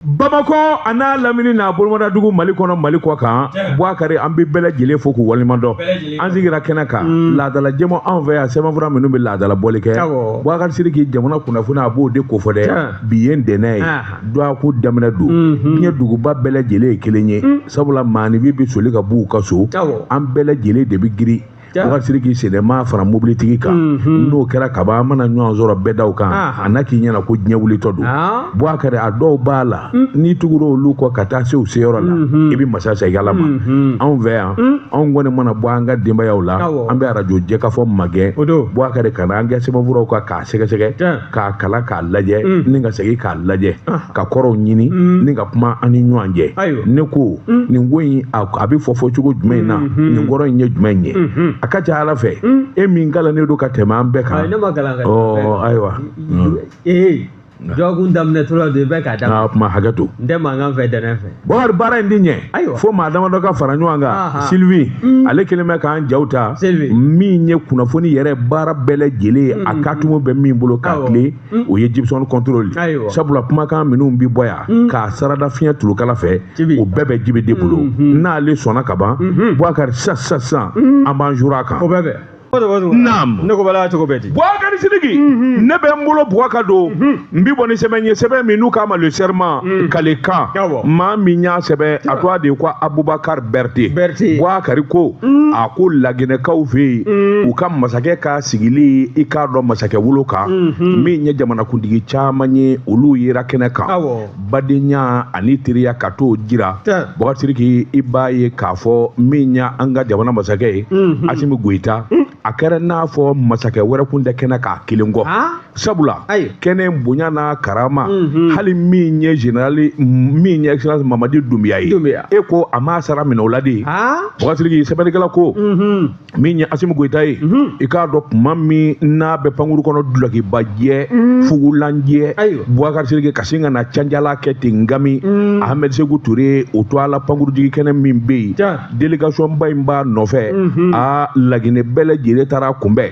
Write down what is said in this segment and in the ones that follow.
bamakɔ a n'a lamini n'a bolomadadugu mali kɔnɔ mali kɔkan buwakari an bɛ bɛɛ lajɛlen fo k'u waleɲumandɔn an sigira kɛnɛ kan mm. laadala jɛmu anw fɛ yan sɛbɛnfura minnu bɛ laadala bɔli kɛ buwakari siriki jamana kunnafoni a b'o de kofɔ dɛ bi ye ntɛnɛn ye dɔgɔkun daminɛ don mm-hmm. diɲɛ duguba bɛɛ lajɛlen ye kelen ye mm. sabula maaninfin bɛ soli ka b'u ka so an bɛɛ lajɛlen de bɛ girin buwakari siriki sennamaa fara mobilitigi kan mhm. n'o kɛra kaban an mana ɲɔgɔn sɔrɔ bɛdaw kan ah. a na k'i ɲɛna ko diɲɛ wulitɔ don ah. buwakari a dɔw b'a la mm. n'i tugura olu kɔ ka taa se u seyɔrɔ la mhm. i bɛ masa segin ala ma mhm. anw fɛ yan mm. anw kɔni mana bɔ an ka denbayaw la an bɛ arajo jɛkafɔ magɛn buwakari ka na an kɛ sɛbɛnfuraw kan k'a sɛgɛsɛgɛ k'a kalan k'a lajɛ mm. ni ka segin k'a lajɛ ah. ka kɔrɔw ɲini mm. ni ka kuma an ni ɲɔgɔn cɛ ne ko mm. nin ko in a bɛ fɔ fɔ cogo jumɛn in na mm-hmm. nin kɔrɔ in ye jumɛn in ye mm-hmm. a ka ca ala fɛ e min kalannen don ka tɛmɛ an bɛɛ kan ayiwa ee dɔgɔkun daminɛ tora don i bɛ k'a daminɛ kuma hakɛ to n tɛ mankan fɛ ntɛnɛn fɛ Buwakari baara in tɛ ɲɛ ayiwa fo maa damadɔ ka fara ɲɔgɔn kan Sylvie mm. ale kelen bɛ k'an jaw ta min ye kunnafoni yɛrɛ baara bɛɛ lajɛlen a mm. katumu bɛ min bolo k'a tilen mm. o ye Jibson contrôle sabula kumakan minnu bi bɔ yan k'a sarada fiɲɛ tulukala fɛ o bɛɛ bɛ jibi de bolo mm-hmm. n'ale sɔnna ka ban mm-hmm. Buwakari sisan sisan sisan an b'an juuru a kan ne ko bala cogo bɛ di buwakari sidiki mhm. ne bɛ n bolo buwa ka don mhm. n bi bɔ ni sɛbɛn ye sɛbɛn min n'u k'a ma le serment mhm. kalikan maa min y'a sɛbɛn a tɔgɔ de ko abubakar bɛrite buwakari ko a ko laginɛkaw fɛ yen u ka masakɛ ka sigili i k'a dɔn masakɛ wolo kan min ye jamanakuntigi caman ye olu yera kɛnɛ kan badenya ani teriya ka t'o jira buwakari siriki i b'a ye k'a fɔ min ye an ka jamana masakɛ ye mhm. asimi goyita mhm. a kɛra n'a fɔ masakɛ wɛrɛ kun tɛ kɛnɛ kan a kelen kɔ ah. sabula kɛnɛ bonya n'a karama mhm. hali min ye generali min ye excellence mamadi dunbiya ye e ko a m'a sara minɛ o la de ah. buwakari siriki sɛbɛnnikɛla ko min ye asimu goyita ye mhm. i k'a dɔn kuma min n'a bɛ pankurun kɔnɔ dulɔkibajɛ mhm. fugulanjɛ buwakari siriki ka sin ka na canjala kɛ ten ngami mhm. ahmed seku ture o tɔgɔ la pankurunjigi kɛnɛ min bɛ yen délégation ba in b'a nɔfɛ a laginɛ bɛɛ lajɛlen taar'a kunbɛn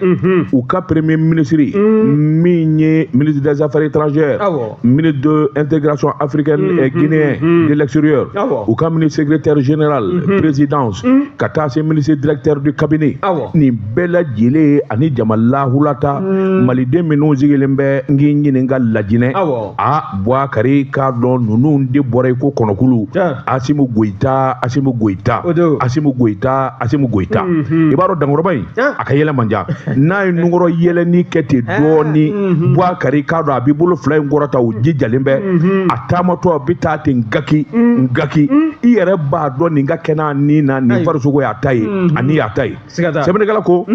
u ka premier ministre min ye ministre des affaires étrangères ministre de l'intégration africaine mm, et mm, guinéen mm, de l'extérieur, ah u ka ministre secrétaire général, mm-hmm. présidence, ka taa se ministre directeur du cabinet, ah nin bɛɛ lajɛlen ani jama lahulata maliden minnu sigilen bɛ n k'i ɲininka lajinɛ a Buwakari k'a dɔn ninnu de bɔra i ko kɔnɔkulu Asimu Goyita Asimu Goyita Asimu Goyita Asimu Goyita i b'a dɔn dankɔrɔba in a ka yɛlɛ man ca n'a ye nunkɔrɔ yɛlɛni kɛ ten dɔɔni mhm. buwakari i k'a dɔn a b'i bolo fila in kɔrɔta o jijalen bɛ mhm. a taamatɔ a bɛ taa ten gaki mhm. gaki i yɛrɛ b'a dɔn nin ka kɛnɛ nin na nin farisogo y'a ta ye ani y'a ta ye sɛbɛnnikɛla ko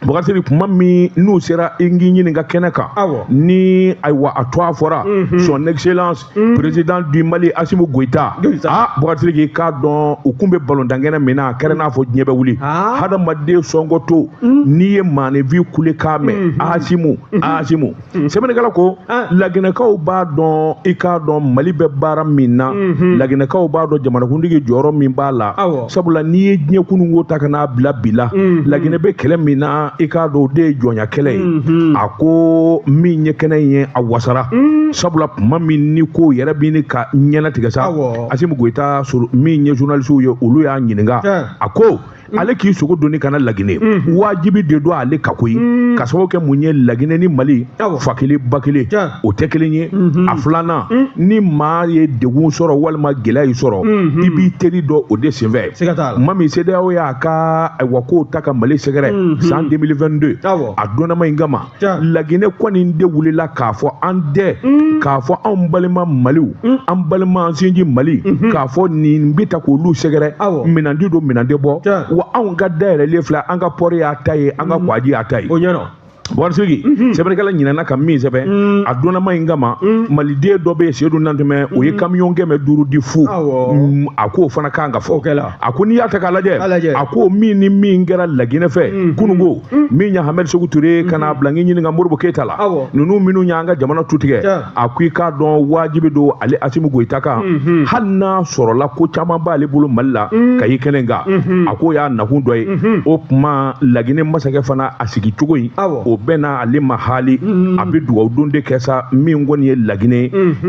buwakari sidiki kuma min n'u sera n k'i ɲininka kɛnɛ kan ni ayiwa a tɔgɔ fɔra son excellence Mm. président du mali asimu goyita a buwakari sidiki i k'a dɔn u kun bɛ balontankɛnɛ min na a kɛra n'a fɔ diɲɛ bɛ wuli ah. hadamaden sɔngɔtɔ mm. n'i ye maaninfin kulekan mɛn mm-hmm. asimu mm-hmm. asimu mm-hmm. sɛbɛnnikɛla ko ah. laginɛkaw b'a dɔn i k'a dɔn mali bɛ baara min na laginɛkaw b'a dɔn jamanakuntigi jɔyɔrɔ min b'a la sabula n'i ye diɲɛ kununko ta ka n'a bila bi la mhm. laginɛ bɛ kɛlɛ min na i k'a dɔn o de ye jɔnya kɛlɛ ye mhm. a ko min ye kɛnɛ ye a wasara mhm. sabula tuma min ni ko yɛrɛ bɛ ni ka ɲɛna tigɛ sa asimu goyita min ye journalisiw ye olu y'a ɲininka a ko Mm. ale k'i sogo doni ka na laginɛ mm. wajibi de don ale kan koyi mm. ka sababu kɛ mun ye laginɛ ni mali fa kelen ba kelen o tɛ kelen ye mhm. a filanan mm. ni maa ye degun sɔrɔ walima gɛlɛya y'i sɔrɔ mhm. i b'i teri dɔn o de senfɛ tuma min sedeyawo y'a ka ayiwa kow ta ka mali sɛgɛrɛ mhm. san 2022 a donnama in kama laginɛ kɔni de wulila k'a fɔ an tɛ mm. k'a fɔ anw balima maliw mm. an balima an sinji mali k'a fɔ nin bɛ ta k'olu sɛgɛrɛ minan tɛ don minan tɛ bɔ wa anw ka da yɛlɛlen filɛ an ka pɔri y'a ta ye an ka kɔgɔji y'a ta ye Buwakari sidiki mhm. sɛbɛnnikɛla ɲinɛna ka min sɛbɛn mm. a donnama in kama mm. maliden dɔ bɛ yen sedu nantumɛ o ye mm. kamiyɔn kɛmɛ duuru di fu a k'o fana kan ka fɔ a ko n'i y'a ta k'a lajɛ a ko min ni min kɛra laginɛ fɛ kununko min ye hamɛdi seku ture ka n'a bila n k'i ɲininka modibo keyita la ninnu minnu y'an ka jamana tutigɛ a ko i k'a dɔn wajibi don ale asimu goyita kan mhm. hali n'a sɔrɔla ko caman b'ale bolo mali la mhm. ka ye kɛnɛ kan mhm. a k'o y'a nakun dɔ ye o tuma laginɛ masakɛ fana a sigi cogo in o bɛnna ale ma haali a bɛ dugawu don de kɛ sa min kɔni ye laginɛ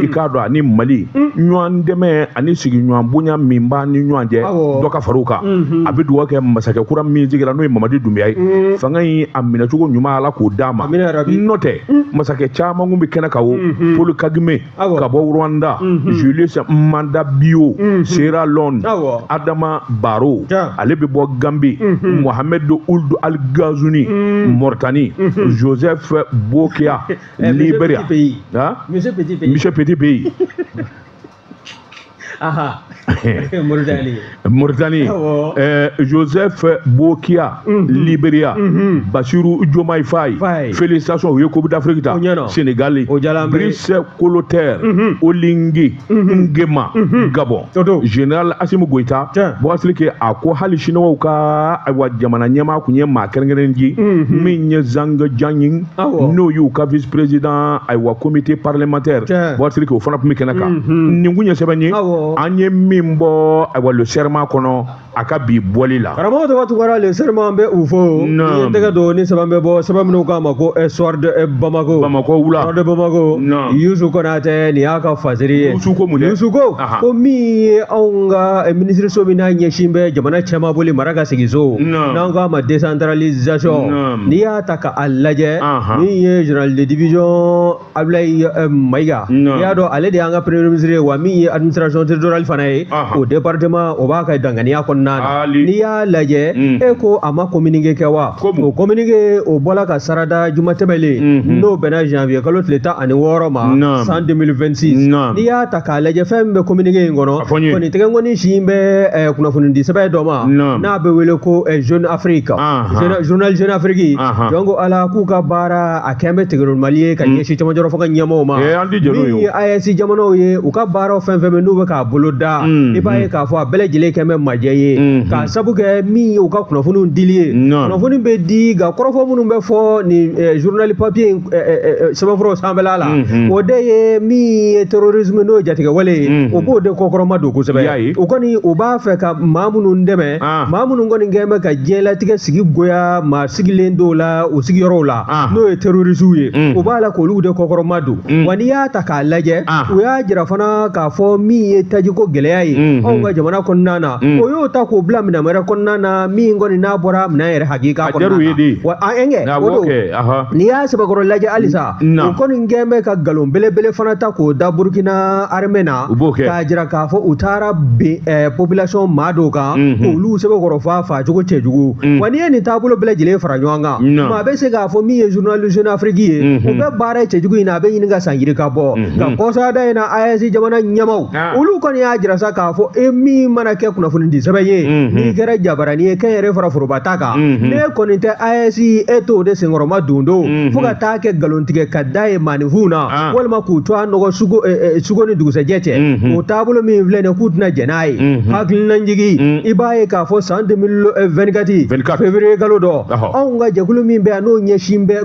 i k'a dɔn ani mali ɲɔgɔn dɛmɛ ani sigiɲɔgɔn bonya min b'a ni ɲɔgɔn cɛ dɔ ka far'u kan a bɛ dugawu kɛ masakɛ kura min sigira n'o ye mamadi dunbiya ye fanga in a minɛcogo ɲuman ala k'o d'a ma n'o tɛ masakɛ caman kun bɛ kɛnɛ kan o paul kagame ka bɔ rwanda julius manda bio sierra leone adama barrow ale bɛ bɔ gambie mohamed ould al ghazouani mauritanie joseph bokia liberia monsieur petit faye Aha. Mauritanie. Mauritanie. Awɔ. Euh, Joseph Bokia, Liberia, Bassirou Diomaye Faye, Faye. félicitations, u ye Coupe d'Afrique ta, O ɲɛna. Sénégal, O diyala an bɛɛ ye. Brice Clotaire Oligui Nguema, Gabon, O don. Général Assimi Goïta, Tiɲɛ. Bouassili ke a ko hali Siniwaw ka ayiwa jamana ɲɛmaa kun ye maa kɛrɛnkɛrɛnnen ci min ye Zhang Jianyin n'o y'u ka vice président ayiwa comité parlementaire bɔtiri o fana tun bɛ kɛnɛ kan mhm. nin kun ye sɛbɛn ye an ye min bɔ ayiwa le serment kɔnɔ a ka bi bɔli la karamɔgɔ tɔgɔ tugara le serment bɛ u fo n ye tɛgɛ don ni sɛbɛn bɛ bɔ sɛbɛn min u k'a ma ko eh, soir de eh, bamako bamako wula soir de bamako yusu konatɛ nin y'a ka fasiri ye yusu ko mun dɛ yusu ko ko min ye anw ka eh, minisiriso min n'a ɲɛsin bɛ jamana cɛmabɔli mara ka sigiso n'an k'a ma décentralisation n'i y'a ta a lajɛ min ye general de division Ablaye eh, Mayiga i y'a dɔn ale de y'an ka premier ministre ye wa min ye administration territoriale fana ye o département o b'a ka danganiya kɔnɔna na n'i y'a lajɛ mm. e ko a ma communiqué kɛ wa o communiqué o bɔla ka sarada juma tɛmɛlen mm-hmm. n'o bɛnna janvier kalo tile tan ani wɔɔrɔ ma san 2026 n'i y'a ta k'a lajɛ fɛn min bɛ communiqué in kɔnɔ kɔni tɛgɛnkɔni sin bɛ eh, kunnafonidi sɛbɛn dɔ ma n'a bɛ wele ko eh, jeune afrique journal jeune afrique donc a la k'u ka baara a kɛn bɛ tigɛrol mali ye ka mm. ɲɛsin camajɔrɔ fo ka ɲɛmɔgɔw ma eh, min ye aes jamanaw ye u ka baaraw fɛn fɛn bɛ n'u bɛ k'a boloda mm, i b'a ye mm. k'a fɔ a bɛɛ lajɛlen kɛn bɛ majɛ ye mm-hmm. k'a sabu kɛ min ye u ka kunnafoni dili ye kunnafoni bɛ di nka kɔrɔfɔ minnu bɛ fɔ nin eh, journal papier in eh, sɛbɛnfuraw sanfɛla la mm-hmm. o de ye min ye terrorisme n'o ye jatigɛwale ye mm-hmm. o b'o de kɔkɔrɔmadon kosɛbɛ u kɔni u b'a fɛ ka maa minnu dɛmɛ ah. maa minnu kɔni kɛn bɛ ka diɲɛlatigɛ sigi goya maa sigilen dɔw la o sigiyɔrɔw la ah. n'o ye terorisiw ye o mm. b'a la k'olu de kɔkɔrɔmadon mm. wa n'i y'a ta k'a lajɛ ah. o y'a jira fana k'a fɔ min ye tajiko gɛlɛya ye mm-hmm. anw ka jamana kɔnɔna na mm. o y'o ta k'o bila minɛn wɛrɛ kɔnɔna na min kɔni n'a bɔra minɛn yɛrɛ hakika kɔnɔna na wa ɛnkɛ o n'i y'a sɛbɛkɔrɔ lajɛ halisa na u kɔni kɛn bɛ ka nkalon belebele fana ta k'o da burukina armée na k'a jira k'a fɔ u taara bin eh, population maa dɔw kan k'olu sɛbɛkɔrɔ faa faa cogo cɛjugu wa n'i ye nin taabolo bɛɛ lajɛlen fara ɲɔgɔn kan maa bɛ se k'a fɔ min ye journal jeune afrique ye u bɛ baara cɛjugu in na a bɛ ɲini ka san yirika bɔ nka kɔsada in na aes jamana ɲɛmaw olu kɔni y'a jira sa k'a fɔ e min mana kɛ kunnafonidi sɛbɛn ye mhm. n'i kɛra jabarani ye kɛnyɛrɛ fara foroba ta kan mhm. n'e kɔni tɛ aes e t'o de senkɔrɔmadondon mhm. fo ka taa kɛ nkalontigɛ ka da ye maaninfinw na ah. walima k'u tɔgɔ nɔgɔ su ko eh, eh, ni dugusɛjɛ cɛ o taabolo min filɛ nin k'u tɛna jɛn n'a ye hakilinajigi mm. i b'a ye k'a fɔ san 2024 eh, février kalo dɔ anw ka jɛkulu min bɛ yan n'o ɲɛsin bɛ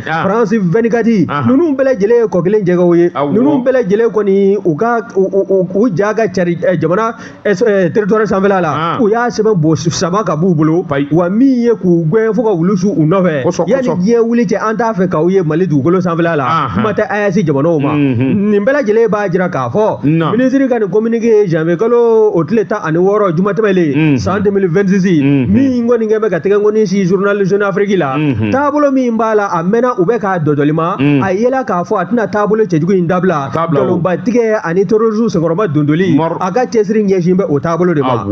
Ah. France 24 ah. ninnu bɛɛ lajɛlen ye kɔ kelen jɛgɛw ye ninnu bɛɛ lajɛlen kɔni u ka u ja ka cari eh, jamana eh, eh, territoire sanfɛla la ah. u y'a sɛbɛn bo sama ka b'u bolo wa min ye k'u gɛn fo ka wulu su u nɔfɛ yanni diɲɛ wuli cɛ an t'a fɛ k'aw ye Mali dugukolo sanfɛla la kuma tɛ AES jamanaw ma mhm. nin bɛɛ lajɛlen b'a jira k'a fɔ minisiri ka nin communiqué ye janvier kalo o tile tan ani wɔɔrɔ juma tɛmɛlen mhm. san 2026 mhm. min kɔni kɛ bɛ ka tɛgɛkɔni sin journal Jeune Afrique la mhm. taabolo min b'a la a mɛnna u bɛ k'a dɔdɔli ma mm. a yela k'a fɔ a tɛna taabolo cɛjugu in dabila nkalonbatigɛ ani terorisiw senkɔrɔmadondoli a ka cɛsiri ɲɛsin bɛ o taabolo de ma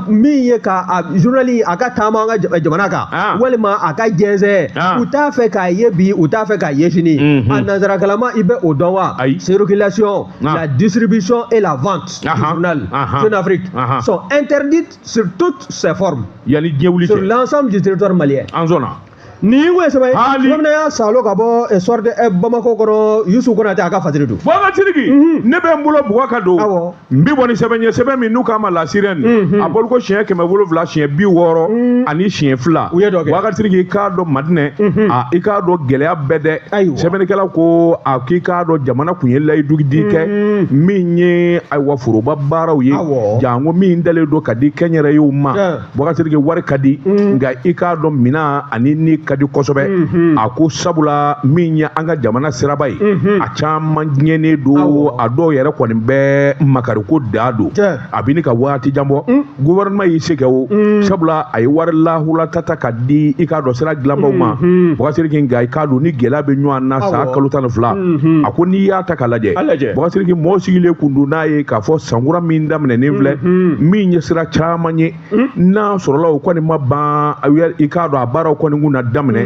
min ye ka a journali a ka taama an ka jamana kan ah. walima a ka jɛnsɛn ah. u t'a fɛ k'a ye bi u t'a fɛ k'a ye sini mhm. a nansarakalama i bɛ o dɔn wa circulation ah. la distribution et la vente du journal Jeune Afrique sont interdites sur toutes ses formes yanni diɲɛ wuli cɛ sur l'ensemble du territoire malien an sɔnna nin ye ko ye sɛbɛn ye tuma min na y'a salo ka bɔ eh, Soir de Bamako kɔnɔ yusu konatɛ a ka fasiri don bakasiriki mhm. ne bɛ n bolo bugɔ ka don awɔ n bi bɔ ni sɛbɛn ye sɛbɛn min n'u k'a ma La Sirène mhm. a bɔli ko siɲɛ kɛmɛ wolonwula siɲɛ bi wɔɔrɔ mhm. ani siɲɛ fila u ye dɔ kɛ bakasiriki i k'a dɔn madinɛ a i k'a dɔn gɛlɛya bɛ dɛ ayiwa sɛbɛnnikɛla ko a k'i k'a dɔn jamana kun ye layidugudi kɛ mm-hmm. min ye ayiwa foroba baaraw ye janko min dalen don ka di kɛnyɛrɛyew ma bakasiriki wari ka di mm-hmm. nka i k'a dɔn minan ani ni ka di kosɛbɛ mm-hmm. a ko sabula min ye an ka jamana siraba ye a caman tiɲɛnen don a dɔw yɛrɛ kɔni bɛ makariko dan don a bɛ ni ka waati jan bɔ mm. gouvernement y'i se kɛ o mm. sabula a ye wari lahulata ta ka di i k'a dɔn sira dilanbaw ma mm-hmm. bakasiriki nka i k'a dɔn ni gɛlɛya bɛ ɲɔgɔn na san kalo tan ni fila mm-hmm. a ko n'i y'a ta ka lajɛ bakasiriki mɔgɔ sigilen kun don n'a ye k'a fɔ sankura min daminɛnen filɛ mm-hmm. min ye sira caman ye mm. n'a sɔrɔla o kɔni ma ban i k'a dɔn a baaraw kɔni kun na daminɛ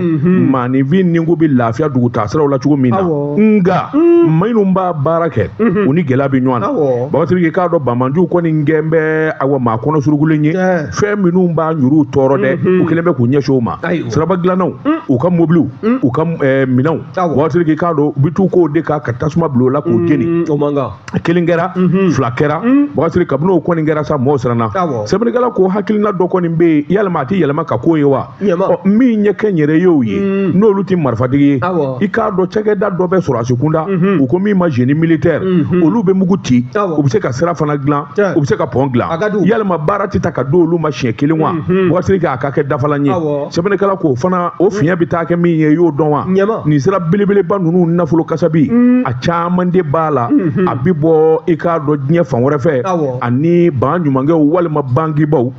maaninfin nin kun bɛ lafiya dugutaa siraw la cogo min na nka minnu b'a baara kɛ u ni gɛlɛya bɛ ɲɔgɔn na bakasiriki k'a dɔn banbaanciw kɔni gɛn bɛ awa maa kɔnɔ surugulen ye fɛn minnu b'an yɛrɛw tɔɔrɔ dɛ u kɛlen bɛ k'u ɲɛsin o ma siraba dilannaw u ka mobiliw u ka minɛnw bakasiriki k'a dɔn u bɛ t'u k'o de kan ka tasuma bila o la k'u jeni o man kan kelen kɛra mhm. fila kɛra mhm. bakasiri kabini o kɔni kɛra sa mɔgɔw siranna sɛbɛnnikɛla ko hakilina dɔ kɔni bɛ yen yalima a tɛ yɛlɛma ka k'o ye wa min ɲɛ kɛ n yɛrɛ ye o ye mhm. n'olu tɛ marifatigi ye i k'a dɔn cakɛda dɔ bɛ sɔrɔdasi kunda u ko min ma génie militaire olu bɛ mugu ci u bɛ se ka sira fana dilan u bɛ se ka pɔn dilan yalima baara tɛ ta ka di olu ma siɲɛ kelen wa bakasiri k'a ka kɛ dafalan ye sɛbɛnnikɛla ko fana o fiɲɛ bɛ taa kɛ min ye i y'o dɔn wa nin sira belebeleba ninnu nafolo kasabi caman de b'a la a bɛ bɔ i k'a dɔn diɲɛ fan wɛrɛ fɛ ani baɲumankɛw walima bankibaw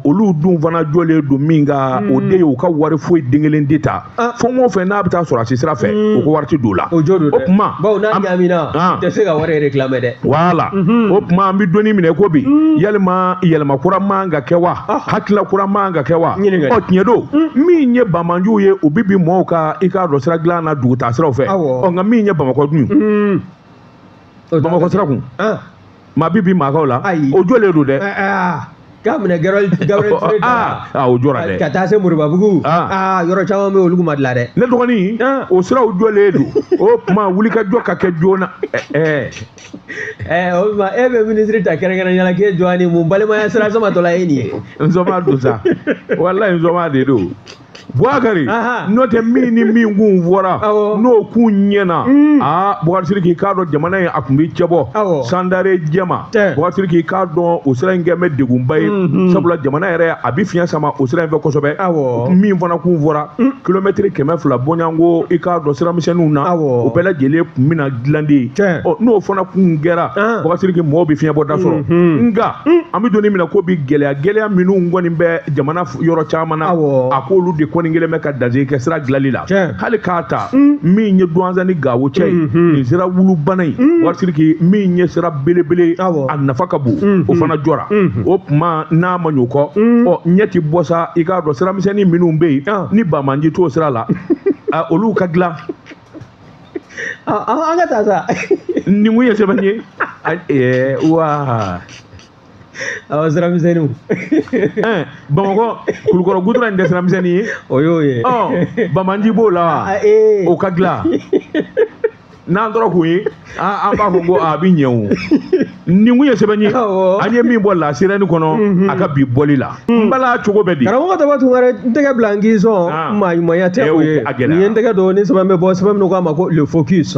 olu dun fana jɔlen don min kan o de ye u ka wari foyi den kelen tɛ taa fɛn o fɛn n'a bɛ taa sɔrɔdasi sira fɛ u ko wari tɛ don o la o jɔ o tuma tɛ se ka wari de dilan dɛ voilà o tuma an bɛ don min na ko bi yalima yɛlɛma kura man ka kɛ wa hakilila kura man ka kɛ wa tiɲɛ don min ye banbaanciw ye u bɛ bin mɔɔw kan i k'a dɔn sira dilan na dugutaa siraw fɛ ɔ nka min ye bamakɔ dun hmm. bamakɔ sira kun ah. maa bi bin maa kan o la o jɔlen don dɛ eh, eh, ah. k'a minɛ Gabriel Touré ah, ah o jɔra dɛ ka taa se Moribabugu ah. ah yɔrɔ caman bɛ olu ma dilan dɛ ne dɔgɔnin ah. o siraw jɔlen don o tuma wulikajɔ ka kɛ joona ɛɛ eh, eh. eh, o tuma e bɛ minisiri ta kɛrɛnkɛrɛnnenya la k'e jɔ ni mun balimaya sira samatɔla ye nin ye n sɔnma don sa walayi n sɔnma de don Bukari n'o tɛ min ni min kun fɔra n'o kun ɲɛna mm. aa Bukari Siriki i k'a dɔn jamana in a kun bɛ cɛbɔ sandare jɛma Bukari Siriki i k'a dɔn o sira in kɛ bɛ degunba ye mm-hmm. sabula jamana yɛrɛ a bɛ fiɲɛ sama o sira in fɛ kosɛbɛ min fana kun fɔra mm. kilomɛtiri kɛmɛ fila bɔɲɔnko i k'a dɔn siramisɛnninw na o bɛɛ lajɛlen kun bɛna dilan de n'o fana kun kɛra ah. Bukari Siriki mɔgɔw bɛ fiɲɛbɔda sɔrɔ mm-hmm. nka mm. an bɛ don min na ko bi gɛlɛya gɛlɛya minnu kɔni bɛ jamana yɔrɔ caman na a k'olu de kɔni kɛlen bɛ ka dan sigi sira dilanli la hali k'a ta mm. min ye duwanza ni gawo cɛ ye mm-hmm. nin sira wulubana ye mm. Bukari Siriki min ye sira belebele a nafa ka bon mm-hmm. o fana jɔra mm-hmm. o tuma n'a ma ɲɔ kɔ mm. ɔ ɲɛ ti bɔ sa i k'a dɔn siramisɛnnin minnu bɛ yen ah. ni banbaanci t'o sira la ah, olu ka dilan ah, an ka taa sa nin kun ye sɛbɛn ye wa awa sira misɛnniw eh, bamakɔ kulukɔrɔ gudɔrɔn in tɛ sira misɛnni ye o y'o ye ɔ banbaanci b'o la wa ah, ah, eh. o ka dilan n'an tora k'o ye an b'a fɔ ko a bɛ ɲɛ o nin kun ye sɛbɛn ye an ye min bɔ La Sirène kɔnɔ mhm. a ka bi bɔli la Hmm. n bala cogo bɛ di karamɔgɔ tɔgɔ tun wɛrɛ n tɛgɛ bila n k'i sɔn ah. maa ɲumanya tɛ eh, o ye nin ye n tɛgɛ don ni sɛbɛn bɛ bɔ sɛbɛn min k'a ma ko le focus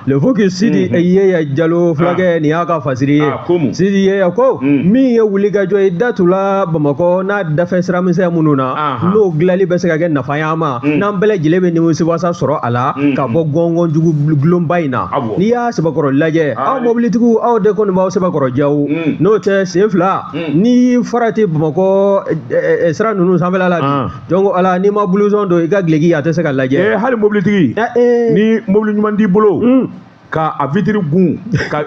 le focus sidi hmm. yeya jalo fulakɛ ah. nin y'a ka fasiri ye ah, sidi yeya ko hmm. min ye wulikajɔ ye datula bamakɔ n'a dafɛ sira misɛn minnu na n'o dilanli bɛ se ka kɛ nafa y'an ma n'an bɛɛ lajɛlen bɛ nimisiwasa sɔrɔ a la ka bɔ gɔngɔn jugu kolonba in na n'i y'a sɛbɛkɔrɔ lajɛ aw mobilitigiw aw de kɔni b'aw sɛbɛkɔrɔ jaw n'o tɛ sen fila ni farati bamakɔ sira ninnu sanfɛla la bi jɔn ko ala n'i ma bulusɔn don i ka dulɔki a tɛ se ka lajɛ hali mobilitigi ni mobili ɲuman t'i bolo ka a vitiri gun ka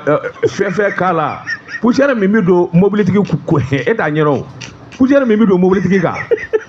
fɛn fɛn k'a la poussière min bɛ don mobilitigi e t'a ɲɛdɔn poussière min bɛ don mobilitigi kan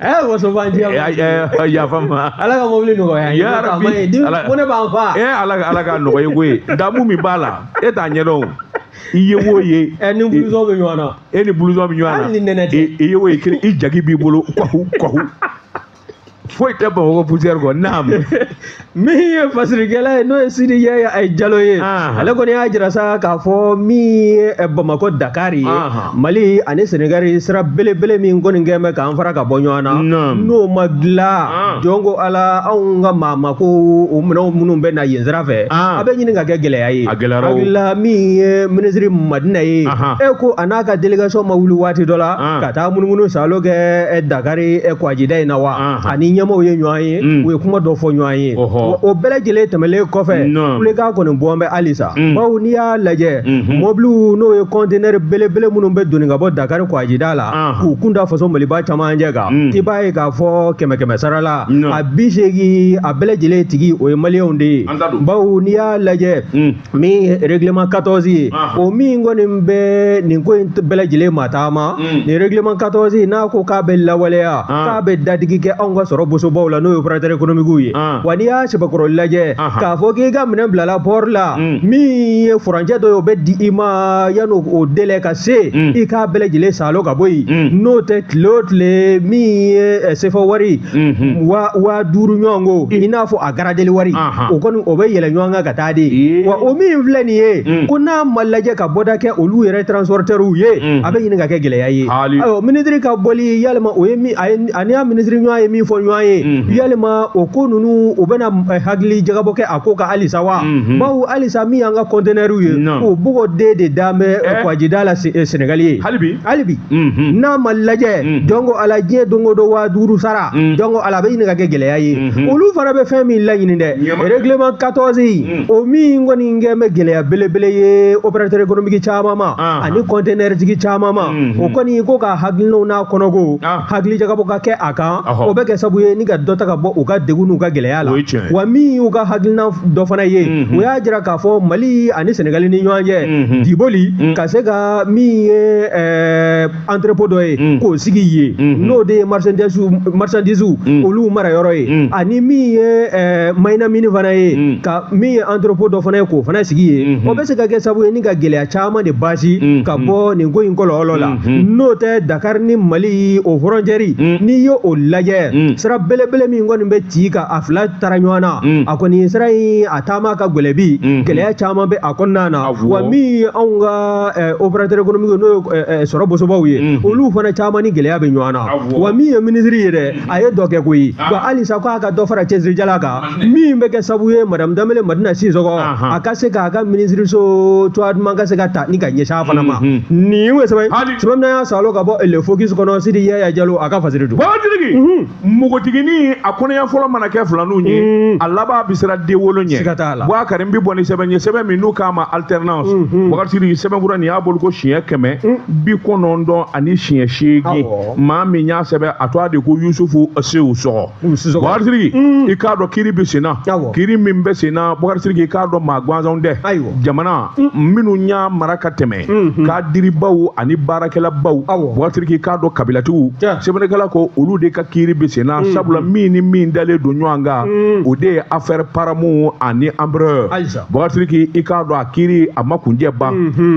ɛ waso b'an jɛ yafa ma ala ka mobili nɔgɔya ye ya rabi ko ne b'an fa ɛ ala ka ala ka nɔgɔya ye koyi damu min b'a la e t'a ɲɛdɔn i ye wo ye ɛ ni blouson bɛ ɲɔgɔn na e ni blouson bɛ ɲɔgɔn na hali ni nɛnɛ tɛ i ye wo ye kelen i jaki b'i bolo kɔhu kɔhu foyi tɛ bamakɔ poussière kɔ naam min ye fasirikɛla ye n'o ye sidi ye eh, jalo ye ale kɔni y'a jira sa k'a fɔ min ye eh, bamakɔ dakari ye mali ani senegari sira belebele min kɔni kɛn bɛ k'an fara ka bɔ ɲɔgɔn na n'o ma dilan jɔnko ala anw ka mako minɛnw minnu bɛ na yen sira fɛ a bɛ ɲini ka kɛ gɛlɛya ye hakilila min ye minisiri madina ye e ko a n'a ka delegasɔn ma wuli waati dɔ la ka taa munumunu salo kɛ eh, dakari kwajida in na wa ani ɲɛmɔgɔw ye ɲɔgɔn ye ye u ye kuma dɔ fɔ ɲɔgɔn ye o bɛɛ lajɛlen tɛmɛlen kɔfɛ kulekan kɔni bɔn bɛ halisa bawo n'i y'a lajɛ mɔbiliw n'o ye kɔntenɛri belebele minnu bɛ doni ka bɔ dakari kwajida la k'u kun da faso maliba camancɛ kan i b'a ye k'a fɔ kɛmɛ kɛmɛ sara la a bi seegin a bɛɛ lajɛlen tigi o ye maliyɛnw de ye bawo n'i y'a lajɛ min ye règlement 14 ye Anhan. o min kɔni bɛ nin ko in t- bɛɛ lajɛlen mataama Mm. nin règlement 14 in n'a ko k'a bɛ lawaleya An. k'a bɛ dadigi kɛ anw ka sɔrɔ bosobaw la n'o ye opérateur économique ye An. wa n'i y'a sɛbɛkɔrɔ lajɛ Anhan. k'a fɔ k'i ka minɛn bilala port la Mm. min ye furancɛ dɔ ye o bɛ di i ma yanni o délai ka se Mm. i k'a bɛɛ lajɛlen salo ka bɔ yen Mm. n'o tɛ tile o tile min ye eh, sefa wari Mhm. waa duuru ɲɔgɔn ko i n'a fɔ a garadeli wari Anhan. o kɔni o bɛ yɛlɛ ɲɔgɔn kan ka taa taa de ye wa o min filɛ nin ye mm. ko n'a ma lajɛ ka bɔda kɛ olu yɛrɛ transportɛriw ye mm. a bɛ ɲini ka kɛ gɛlɛya ye ayiwa minisiri ka bɔli yalima o ye min a ye ani y'a minisiri ɲɔgɔn ye min fɔ ɲɔgɔn ye mm-hmm. yalima o ko ninnu o bɛna eh, hakili jagabɔ kɛ a ko kan halisa wa mm-hmm. bawo halisa min y'an ka kɔntɛnɛriw ye o bɔgɔ den de dan bɛ eh, eh. kwajida la sɛnɛgali yen hali bi hali bi mm-hmm. n'a ma lajɛ jɔnko ala diɲɛ don o don waa duuru sara jɔnko ala a bɛ ɲini ka kɛ gɛlɛya ye Mhm. olu fana bɛ fɛn min laɲini dɛ règlement 14 mhm. o min kɔni kɛn bɛ gɛlɛya belebele ye opérateur économique caman ma ah. ani conteneur tigi caman ma mhm. o kɔni ko ka hakilinaw n'a kɔnɔko ah. hakili jagabɔ ka kɛ a kan o bɛ kɛ sabu ye ni ka dɔ ta ka bɔ u ka degun n'u ka gɛlɛya la wa min y'u ka hakilina dɔ fana ye u y'a jira k'a fɔ mali ani sɛnɛgali ni ɲɔgɔn cɛ diboli ka se ka min ye entrepôt dɔ ye mm. k'o sigi yen mm-hmm. n'o de ye marchandise mm. olu mara yɔrɔ ye mm. ani min ye eh, mayinamini fana ye ka min ye entrepôt dɔ fana ye k'o fana sigi yen mm-hmm. o bɛ se ka kɛ sabu ye ni ka gɛlɛya caman de basi mm-hmm. ka bɔ nin ko in kɔlɔlɔ la n'o tɛ dakar ni mali o frontiɛri n'i ye o lajɛ sira belebele min kɔni bɛ ci ka a fila tara ɲɔgɔn na a kɔni sira in a taama ka gɛlɛn bi gɛlɛya caman bɛ a kɔnɔna na wa min ye anw ka opérateur économique n'o ye sɔrɔ bosobaw ye olu fana caman ni gɛlɛya bɛ ɲɔgɔn na wa min ye minisiri ye dɛ a ye dɔ kɛ koyi wa halisa ko a ka dɔ fara cɛsirijala kan min bɛ kɛ sabu ye madame danbele madina sisɔkɔ a ka se k'a ka minisiriso cogoya duman ka se ka ta ni ka ɲɛsin a fana ma nin ye sɛbɛn sɛbɛn y'a salo ka bɔ le focus kɔnɔ sidi yaya jalo a ka fasiri don npogotiginin a kɔnɔya fɔlɔ mana kɛ filaninw ye mm. a laban bɛ siran den wolo ɲɛ siga t'a la bɔsiriki n bɛ bɔ ni sɛbɛn ye sɛbɛn min n'u k'a ma alternance mm-hmm. bɔsiriki sɛbɛnfura nin y'a bɔli ko siɲɛ kɛmɛ mm. bi kɔnɔntɔn ani siɲɛ seegin maa min y'a sɛbɛn a tɔgɔ de ko yusufu sisɔkɔ bɔsiriki mm. i k'a dɔn kiiri bɛ sen na kiiri min bɛ sen na bɔsiriki i k'a dɔn maa gansanw tɛ jamana minnu y'a mara ka tɛmɛ mhm. kadiribaw ani baarakɛlabaw bɔsiriki i k'a dɔn kabilatigiw sɛbɛnnikɛla ko olu de ka kiiri bɛ sen na mhm. sabula min ni min dalen don ɲɔgɔn kan mhm. o de ye affaire paramount ani embraer bɔsiriki i k'a dɔn a kiiri a ma kuncɛ ban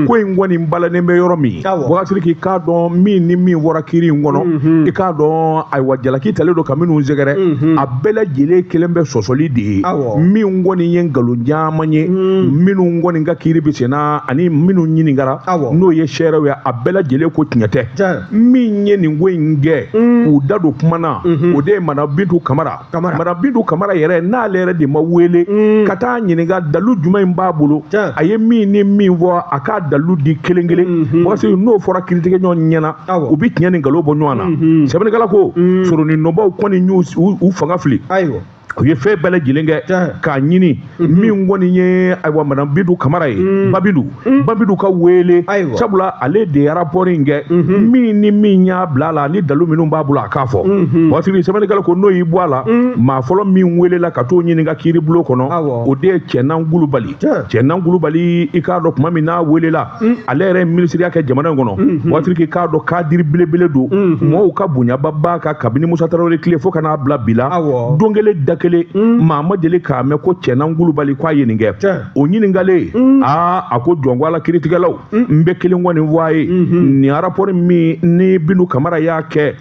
ko in kɔni balanen bɛ yɔrɔ min bɔsiriki i k'a dɔn min ni min fɔra kiiri in kɔnɔ i k'a dɔn ayiwa jalaki talen don ka minnu sɛgɛrɛ a bɛɛ lajɛlen kɛlen bɛ sɔsɔli de ye min kɔni ye nkalon caman ye minnu kɔni ka kiiri bɛ sen na ani minnu ɲininkara n'o ye seerew ye a bɛɛ lajɛlen ko tiɲɛ tɛ min ye nin ko in kɛ mm. k'u da don kuma na mm-hmm. o de ye madame bintu kamara madame bintu kamara yɛrɛ n'ale yɛrɛ de ma wele mm. ka taa ɲininka dalu jumɛn in b'a bolo a ye min ni min fɔ a k'a dalu di kelen kelen mm-hmm. parce que n'o fɔra kiiritigɛ ɲɔgɔn ɲɛ na u bɛ tiɲɛ ni nkalon bɔ ɲɔgɔn na mm-hmm. sɛbɛnnikɛla ko mm. soronnadonbaw kɔni y'u fanga fili u ye fɛn bɛɛ lajɛlen kɛ k'a ɲini mhm. min kɔni ye ayiwa madame bintu kamara ye mhm. ba bintu mhm. ba bintu ka wele sabula ale de ye rapport in kɛ min ni min y'a bila a la ni dalu minnu b'a bolo a k'a fɔ bɔsiriki sɛbɛnnikɛla ko n'o y'i bɔ a la maa fɔlɔ min welela ka t'o ɲininka kiiribulon kɔnɔ o de ye cɛnan kulubali cɛnan kulubali i k'a dɔn tuma min n'a welela Mm. ale yɛrɛ ye minisiriya kɛ jamana in kɔnɔ mm-hmm. bɔsiriki i k'a dɔn kadiri belebele don mm-hmm. mɔgɔw ka bonyaba b'a kan kabini musa tarawele tile fo ka n'a bila bi la don kelen da kelen mm. maa ma deli k'a mɛn ko cɛnan kulubali k'a ye nin kɛ o ɲininkalen mm. aa a ko jɔn ko ala kiiritigɛlaw n bɛ kelen kɔni fɔ aw ye mm-hmm. nin arapɔri min ni bintu kamara y'a kɛ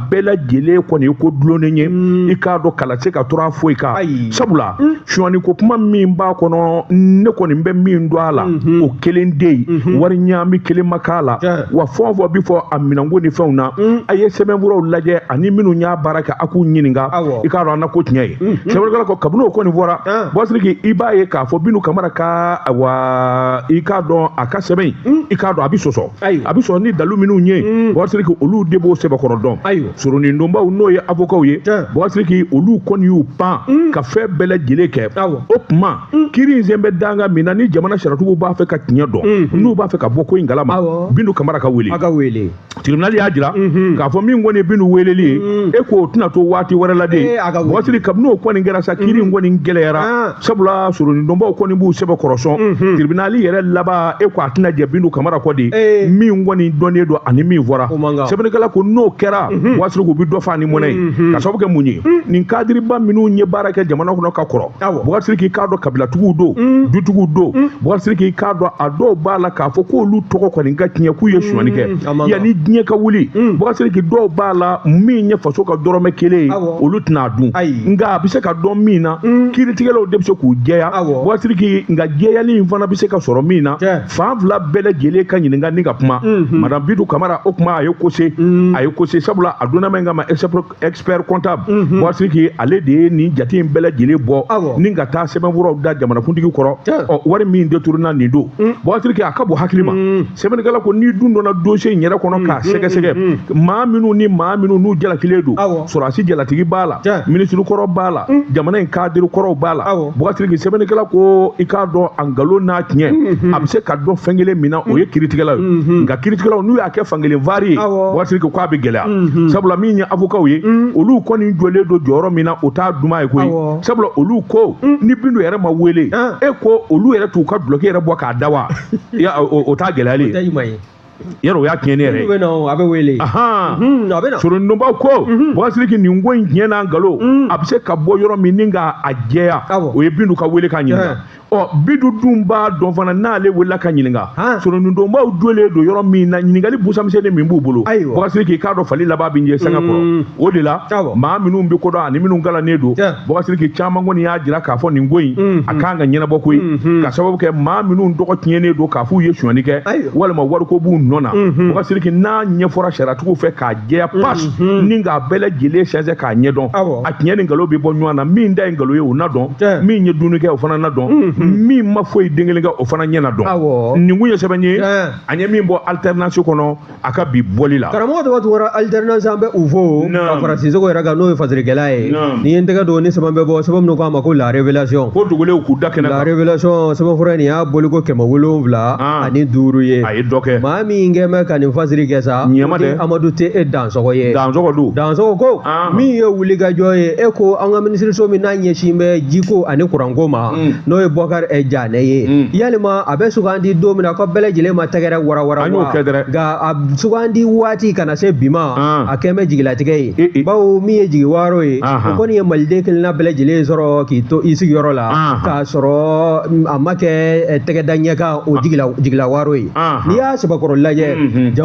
bɛɛ lajɛlen kɔni ye ko dulonnen ye mm. i k'a dɔn kala se ka tora foyi kan sabula mm. sonyani ko kuma min b'a kɔnɔ ne kɔni bɛ min dɔn a la mm-hmm. o kelen de ye mm-hmm. wari ɲaami kelen ma k'a la wa fɛn o fɛn bɛ fɔ a minɛnko ni fɛnw na mm. a ye sɛbɛnfuraw lajɛ ani minnu y'a baara kɛ a k'u ɲininka i k'a dɔn an na ko tiɲɛ ye mm-hmm. sɛbɛnnikɛla ko kabini o kɔni fɔra bɔsiriki i b'a ye k'a fɔ bintu kamara ka wa i k'a dɔn a ka sɛbɛn in i k'a dɔn a bɛ sɔsɔ a bɛ sɔrɔ ni dalu minnu ye mm. bɔsiriki olu de b'o sɛbɛkɔrɔ dɔn soronin donbaw n'o ye avokaw ye bɔsiriki olu kɔni y'u pan mm. ka fɛn bɛɛ lajɛlen kɛ o tuma mm. kiri in sen bɛ danga min na ni jamana sariyatigiw b'a fɛ ka tiɲɛ dɔn mm-hmm. n'u b'a fɛ ka bɔ ko in kalama bintu kamara ka wele tiribinali y'a jira mm-hmm. k'a fɔ min kɔni ye bintu weleli ye e k'o tɛna to waati wɛrɛ la de bɔsiriki kabini o kɔni kɛra sa kiri in kɔni gɛlɛyara ah. sabula soronin donbaw kɔni b'u sɛbɛkɔrɔ sɔn tiribinali yɛrɛ laban e ko a tɛna jɛ bintu kamara kɔ de min kɔni dɔnnen don ani min fɔra sɛbɛnnikɛla ko n'o kɛra bɔgasiriki u bɛ dɔ fa ni mɔnɛ ye ka sababu kɛ mun ye nin kadiriba minnu ye baara kɛ jamana kɔnɔ ka kɔrɔ bɔgasiriki i k'a dɔn kabilatigiw don dutigiw don bɔgasiriki i k'a dɔn a dɔw b'a la k'a fɔ k'olu tɔgɔ kɔni ka tiɲɛ k'u ye sonyani kɛ yanni diɲɛ ka wuli mm. bɔgɔsiriki dɔw b'a la min ye faso ka dɔrɔmɛ kelen ye olu tɛn'a dun nka a bɛ se ka dɔn min na mm. kiritigɛlaw de bɛ se k'u jɛya bɔgɔsiriki nka jɛyali in fana bɛ se ka sɔrɔ min na fan fila bɛɛ lajɛlen ka ɲininka ni ka kuma mm-hmm. madame bintu kamara o kuma a ye kose mm. a ye kose sabula a donna min kama expert comptable mhm. bɔgasiriki ale de ye nin jate in bɛɛ lajɛlen bɔ ni ka taa sɛbɛnfuraw da jamanakuntigi kɔrɔ ɔ wari min deturunenen don mm. bɔgasiriki a ka bon hakili ma mm. sɛbɛnnikɛla ko n'i dun donna dossier in yɛrɛ kɔnɔ mm, k'a sɛgɛsɛgɛ maa minnu ni maa minnu n'u jalakilen don sɔrɔdasi jalatigi b'a la minisiri kɔrɔ b'a la jamana in kadiri kɔrɔw b'a la bɔgasiriki sɛbɛnnikɛla ko i k'a dɔn a nkalon n'a tiɲɛ mm-hmm. a bɛ se ka dɔn fɛn kelen min na o ye kiritigɛlaw ye mm-hmm. nka kiritigɛlaw n'u y'a kɛ fankelen vari ye bɔgasiriki k'a bɛ gɛlɛya mhm. sabula min ye avokaw ye mhm. olu kɔni jɔlen don jɔyɔrɔ min na o t'a duman ye koyi sabula olu ko mhm. ni bintu yɛrɛ ma wele ah. e ko olu yɛrɛ t'u ka dulɔki yɛrɛ bɔ k'a da wa o t'a gɛlɛyalen ye yɛrɛ o y'a tiɲɛnen yɛrɛ ye a bɛ wele soronin donbaw ko bɔgɔsiriki nin ko in tiɲɛ n'a nkalon a bɛ se ka bɔ yɔrɔ min ni k'a jɛya o ye bintu ka wele k'a ɲininka ɔ bintu dun b'a dɔn fana n'ale welela ka ɲininka soronin donbaw dulen don yɔrɔ min na ɲininkali busamisɛnnin min b'u bolo bɔgasiriki i k'a dɔn fali laban bɛ ɲɛ sanga kɔrɔ mm. o de la maa minnu bɛ ko dɔn ani minnu kalannen don bɔgasiriki caman kɔni y'a jira k'a fɔ nin ko in mm-hmm. a kan ka ɲɛnabɔ koyi mm-hmm. ka sababu kɛ maa minnu tɔgɔ tiɲɛnen don k'a f'u ye sonyani kɛ walima wariko b'u nɔ na bɔgasiriki mm-hmm. n'a ɲɛfɔra sariyatigiw fɛ k'a jɛya pas mhm. ni k'a bɛɛ lajɛlen sɛnsɛn k'a ɲɛdɔn a tiɲɛ ni nkalon bɛ bɔ ɲɔgɔn na min ta ye nkalon ye o na dɔn min ye dumuni kɛ o fana na dɔn mhm. min ma foyi den kelen kɛ o fana ɲɛ na dɔn nin kun ye sɛbɛn ye an ye min bɔ alternance kɔnɔ a ka bi bɔli la karamɔgɔ tɔgɔ tugura alternance an bɛ u fo ka fara sisoko yɛrɛ kan n'o ye fasirikɛla ye ne ye n tɛgɛ don ni sɛbɛn bɛ bɔ sɛbɛn min n'u k'a ma ko la révélation ko dogolenw k'u da kɛnɛ kan la révélation sɛbɛnfura in nin y'a bɔliko kɛmɛ wolonwula ah. ani duuru ye a ye dɔ kɛ maa min kɛ mɛ ka nin fasiri kɛ sa ɲɛma dɛ amadu tɛ e dansɔgɔ ye dansɔgɔ don dansɔgɔ ko min ye wulikajɔ ye e ko an ka minisiriso min n'a ɲɛsin bɛ jiko ani kuranko ma mm. n'o ye bɔkari ɛ janɛ ye mm. yalima a bɛ sugandi don min na ko bɛɛ lajɛlen ma tɛgɛrɛ warawara wa nka a sugandi waati ka na se bi ma a kɛ bɛ jigilatigɛ ye e, e. bawo min ye jigi waaro ye o kɔni ye maliden kelenna bɛɛ lajɛlen sɔrɔ k'i to i sigiyɔrɔ la sɔrɔ a ma kɛ tɛgɛ da ɲɛ kan o jigilawaaro ye n'i y'a sɛbɛkɔrɔ lajɛ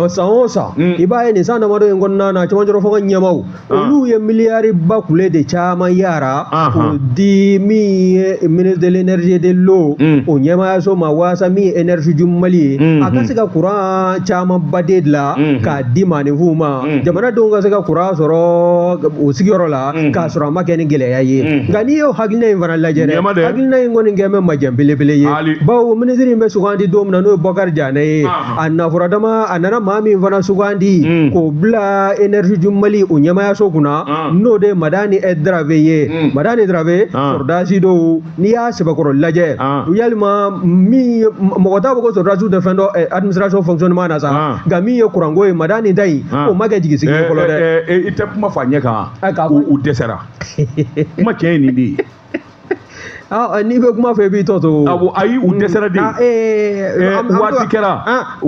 san o san i b'a ye nin san damadɔ in kɔnɔna na cɛmancɛrɔ fanga ɲɛmaw olu ye miliyari ba kule de caman yara k'o di min ye ministre de l'énergie de l'eau o ɲɛmaayaso ma waasa min ye énergie du mali ye a ka se ka kuran caman ba de dilan k'a di maaninfinw ma jamanadenw ka se ka kuran sɔrɔ o sigiyɔrɔ la k'a sɔrɔ a ma kɛ ni gɛlɛya ye nka n'i y'o hakilina in fana lajɛ dɛ hakilina in kɔni kɛ bɛ majɛ belebele ye bawo minisiri in bɛ sugandi don min na n'o ye bɔkari janɛ ye a nafɔra dama a nana maa min fana sugandi k'o bila énergie du mali o ɲɛmayaso kunna n'o de ye madani darave ye madani darave sɔrɔdasi don n'i y'a sɛbɛkɔrɔ lajɛ ah. yalima min mɔgɔ t'a fɔ ko sɔrɔdasiw tɛ fɛn dɔn eh, administration fonctionnement na sa ah. nka min ye kuranko ye madani ta in ah. o ma kɛ jigisigi ye fɔlɔ dɛ eh, i tɛ kuma fɔ a ɲɛ kan u dɛsɛra kuma tiɲɛ ye nin de ye n'i bɛ kuma fɔ i b'i tɔ to awɔ ayi u dɛsɛra de waati kɛra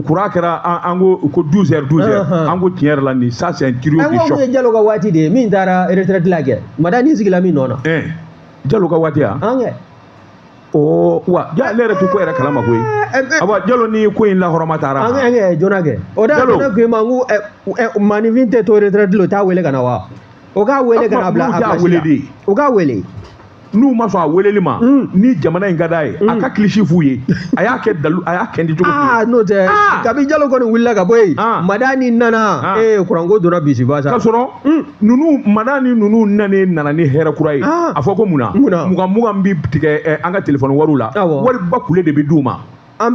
kuran kɛra an ko ko douze heures douze heures an ko tiɲɛ yɛrɛ la nin ça c'est un trio de choc an ko mun ye Jalo ka waati de ye min taara retraite la kɛ madani sigila min nɔ na jalo ka waati yan o wa ja ne yɛrɛ tɛ ko yɛrɛ kalama koyi awa jalo ni ko in lahɔrɔma taara an kɛ joona kɛ o da jalo ko ma ko maninfin tɛ to retraite la o t'a wele ka na wa o k'a wele ka na bila a bila wele de o k'a wele n'u ma sɔn a weleli ma ni jamana in ka d'a ye a ka kilisi f'u ye a y'a kɛ dalu a y'a kɛ di cogo aa n'o tɛ kabi jalo kɔni wulila ka bɔ yen madani nana ee kuranko donna bisiba sa k'a sɔrɔ ninnu madani ninnu nanen nana ni hɛrɛ kura ye ah. a fɔ ko mun na mugan mugan bɛ tigɛ eh, an ka telefɔni wariw la wari ba kule de bɛ d'u ma an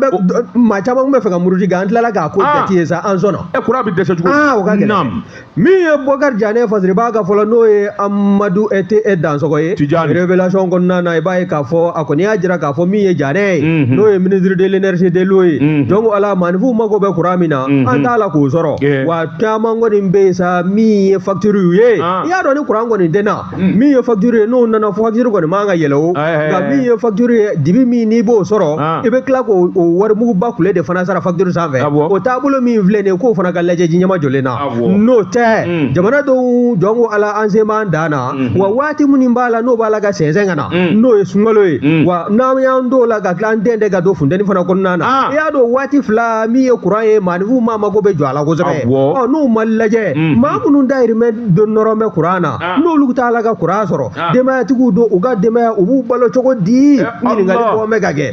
maa caman tun b'a fɛ ka muruti nka an tilala k'a ko ah. jate ye sa an sɔnna ɛ eh, kuran bɛ dɛsɛ cogo ah, o ka gɛlɛn min ye bɔkari janɛ fasiribaga fɔlɔ n'o ye amadu ete e dansɔgɔ ye tijani révélation kɔnɔna na i b'a ye k'a fɔ a kɔni y'a jira k'a fɔ min ye janɛ ye mhm. n'o ye ministre de l'énergie de l'eau ye mhm. donc ala maaninfinw mago bɛ kuran min na mhm. an t'a la k'o sɔrɔ wa caman kɔni bɛ yen sa min ye fakitiriw ye ah. i y'a dɔn ni kuran kɔni tɛ na hmm. min ye fakitiri ye n'o nana fakitiri kɔni man ka yɛlɛn o nka min ye fakitiri ye dibi min n'i b'o sɔrɔ ah. i bɛ tila k'o warimuguba kule de fana sara fakitiri sanfɛ ah, o taabolo min filɛ nin ye k'o fana ka lajɛ ji ɲɛmajɔlen na n'o tɛ hmm. jamana dɔw jɔn ko ala an sen b'an dan na Mm-hmm. wa waati minnu b'a la n'o b'a la ka sɛnsɛn ka na mm. n'o ye sunkalo ye mm. wa n'an y'an t'o la ka tila an den de ka don funteni fana kɔnɔna na ah. i y'a dɔn waati fila min ye kuran ye maaninfinw maa mago bɛ jɔ a la kosɛbɛ ɔ n'o ma lajɛ mm. maa minnu dayirimɛ nɔrɔ bɛ kuran na ah. n'olu t'a la ka kuran sɔrɔ ah. denbayatigiw don u ka denbaya u b'u balo cogo di eh, ɲininkali bɔ bɛ ka kɛ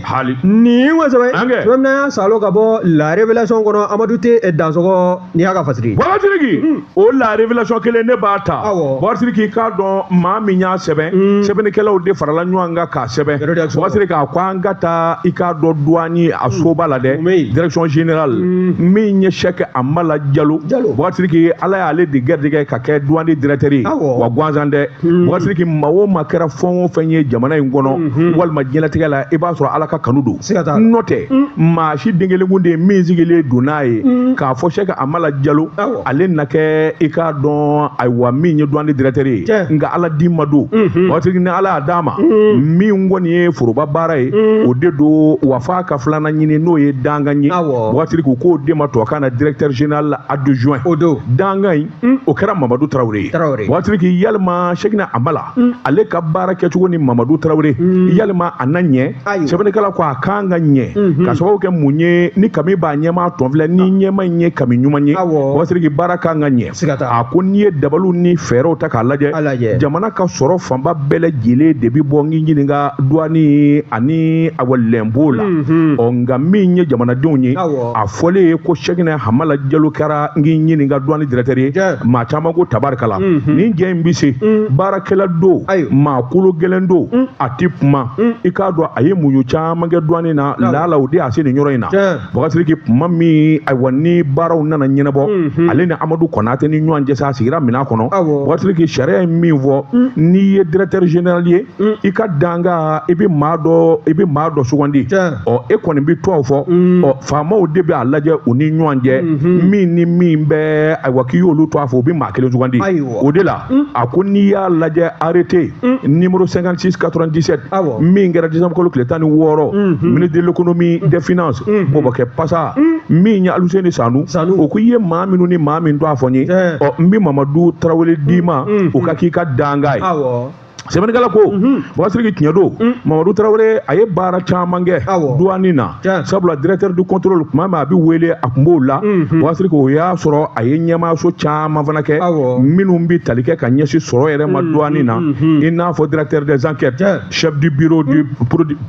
nin kosɛbɛ tuma min na y'a salo ka bɔ la révélation kɔnɔ amadu te eh, dansɔgɔ nin y'a ka fasiri ye bakasiriki hmm. o la révélation kelen ne b'a ta bakasiriki i k'a dɔn maa min y'a sɛbɛn hmm. sɛbɛnnikɛlaw de farala ɲɔgɔn kan k'a sɛbɛn bakasiriki a ko an ka taa i k'a dɔn duwani a hmm. soba la dɛ direction générale min ye sɛkɛ amala jalo bakasiriki ala y'ale de gɛrijɛgɛ ka kɛ duwani directeur ye wa gansan tɛ bakasiriki maa o maa kɛra fɛn o fɛn ye jamana in kɔnɔ walima diɲɛlatigɛ la i b'a sɔrɔ ala ka kanu don siga t'a la n'o tɛ maa si den kelen kun tɛ yen min sigilen don n'a ye k'a fɔ sɛki amala jalo Awɔ. ale na kɛ i k'a dɔn ayiwa min ye duwani directeur ye Tiɲɛ. nka ala d'i ma don bakasiriki ni ala y'a d'a ma min kɔni ye foroba baara ye o de don wa f'a ka filanan ɲini n'o ye dankan ye Awɔ. bakasiriki u k'o de ma tubabukan na directeur général adjoint O don. dankan in o kɛra mamadu tarawele ye bakasiriki yalima sɛkina amala ale ka baara kɛcogo ni mamadu tarawele yalima a na ɲɛ sɛbɛnnikɛla ko a kan ka ɲɛ ka sababu kɛ mun ye ni kami b'a ɲɛmaa tɔn filɛ ni ɲɛmaa in ye kami ɲuman ye bakasiriki baara kan ka ɲɛ a ko n'i ye dabaliw ni fɛɛrɛw ta k'a lajɛ jamana ka sɔrɔ fanba bɛɛ lajɛlen de bɛ bɔ n k'i ɲininka duwani ani awa lɛnpo la ɔ nka min ye jamanadenw ye fɔlen ye ko sɛkina hamala jalo kɛra n k'i ɲininka duwani directeur ye maa caman ko tabarikala mhm. nin cɛ in bɛ se mm. baarakɛla don maa kolo gɛlɛn don mm. a tɛ kuma mm. i k'a dɔn a ye muɲu caman kɛ duwani na laala o de y'a se nin yɔrɔ in na bakasiriki kuma min ayiwa ni baaraw nana ɲɛnabɔ mhm. ale ni amadu kɔnatɛ ni ɲɔgɔn cɛ sa a sigira minɛn kɔnɔ bakasiriki sariya ye min fɔ n'i ye directeur général ye mm. i ka dankan i bɛ maa dɔ i bɛ maa dɔ sugandi ɔ e kɔni bɛ tɔgɔ fɔ mm. ɔ faamaw de bɛ a lajɛ u ni ɲɔgɔn cɛ mm-hmm. min ni min bɛ ayiwa k'i y'olu tɔgɔ fɔ u bɛ maa kelen sugandi o de la mm. a ko n'i y'a lajɛ arrêté numéro cinquante six quatre vingt dix sept min kɛra disanbu kalo tile tan ni wɔɔrɔ mm-hmm. ministre de l'économie des finances mm-hmm. bɔbɔkɛ pasa min ye aluseni sanu o ko i ye maa minnu ni maa min tɔgɔ fɔ n ye ɔ n bɛ mamadu tarawele d'i ma o ka k'i ka dankan ye. sɛbɛnnikɛla ko bakasiriki tiɲɛ don mamadu tarawele a ye baara caman kɛ duwani na sabula directeur du contrôle tuma min a bɛ wele a tun b'o la bakasiriki o y'a sɔrɔ a ye ɲɛmaayaso caman fana kɛ minnu bɛ tali kɛ ka ɲɛsin sɔrɔ yɛrɛ ma duwani na i n'a fɔ directeur des enquêtes chef du bureau du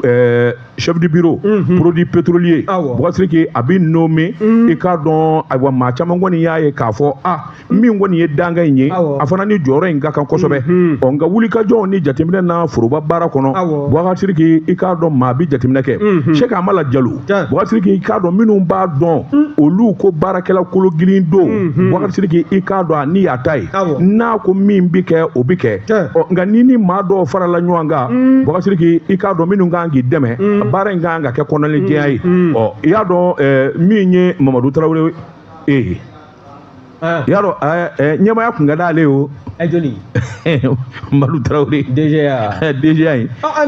euh, chef du bureau produit pétrolier bakasiriki a bɛ nommé i k'a dɔn ayiwa maa caman kɔni y'a ye k'a fɔ a min kɔni ye dankan in ye a fana ni jɔyɔrɔ in ka kan kosɛbɛ mhm. ɔ nka wulikajɔw ni jateminɛ na foroba baara kɔnɔ bubakari sidiki i k'a dɔn maa bi jateminɛ kɛ mhm. sɛki amala jalo bubakari sidiki i k'a dɔn minnu b'a dɔn mm. olu ko baarakɛla kologirin don mhm. bubakari sidiki i k'a dɔn a ni y'a ta ye n'a ko min bi kɛ o bi kɛ ɔ nka ni ni maa dɔw farala ɲɔgɔn kan mm. bubakari sidiki i k'a dɔn minnu kan k'i dɛmɛ mm. baara in kan ka kɛ kɔnɔnajɛya ye ɔ i y'a dɔn eh, min ye mamadu tarawele ee Ah. yaro eh, eh, ɲɛmaaya kun ka d'ale o adjoint mamadu tarawele DGA DGA ye ah, ah,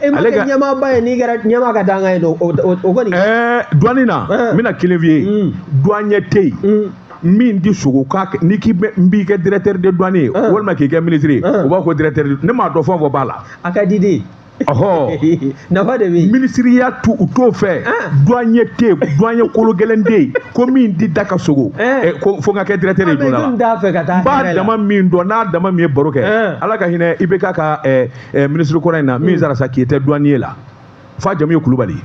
e ma kɛ ɲɛmaaba ye n'i kɛra ɲɛmaa ka dankan ye don o kɔni duwani na n bɛna kelen f'i ye hmm. duwaɲɛ tɛ yen hmm. min tɛ sugo ka kɛ n'i k'i bɛ n b'i kɛ directeur de douane ye walima k'i kɛ ministre ye u b'a fɔ ko directeur ne m'a dɔn fɛn o fɛn b'a la a ka di de nafa de bɛ minisiriya dun u t'o fɛ ah. duwaɲɛ tɛ duwaɲɛ kolo gɛlɛn tɛ yen ko min tɛ da ka sugo eh. Eh, ko fo n ka kɛ directeur de douane ah, la fɛ ka taa n b'a dama min dɔn n'a dama min ye baro kɛ eh. ala ka hinɛ IBK ka minisiri kɔrɔ in na min hmm. sara sa qui était douanier là f'a jamu ye kulubali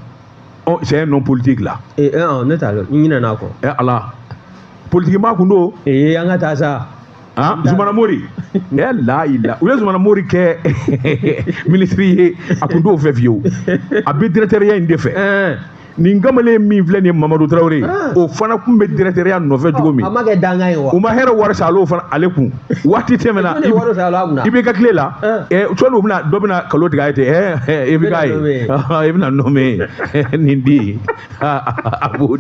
ɔ c'est un homme politique là ne t'a dɔn n ɲinɛna a kɔ ala politiki maa kun don an ka taa sa Ah, zumana mori ɛ layila u ye zumana mori kɛ minisiri ye a tun t'o fɛ fiyewu a bɛ dirɛkitɛriya in de fɛ nin kamalen min filɛ nin ye mamadu tarawele ah. o fana tun bɛ dirɛkitɛriya nɔfɛ cogo min ah, a ma kɛ dankan ye wa u ma hɛrɛ wari sa ale fana ale kun waati tɛmɛna IBK tile la sɔni u bɛna dɔ bɛna nkalon tigɛ a ye ten ɛ i bɛ k'a ye i bɛna nɔmɛ nin di Abu.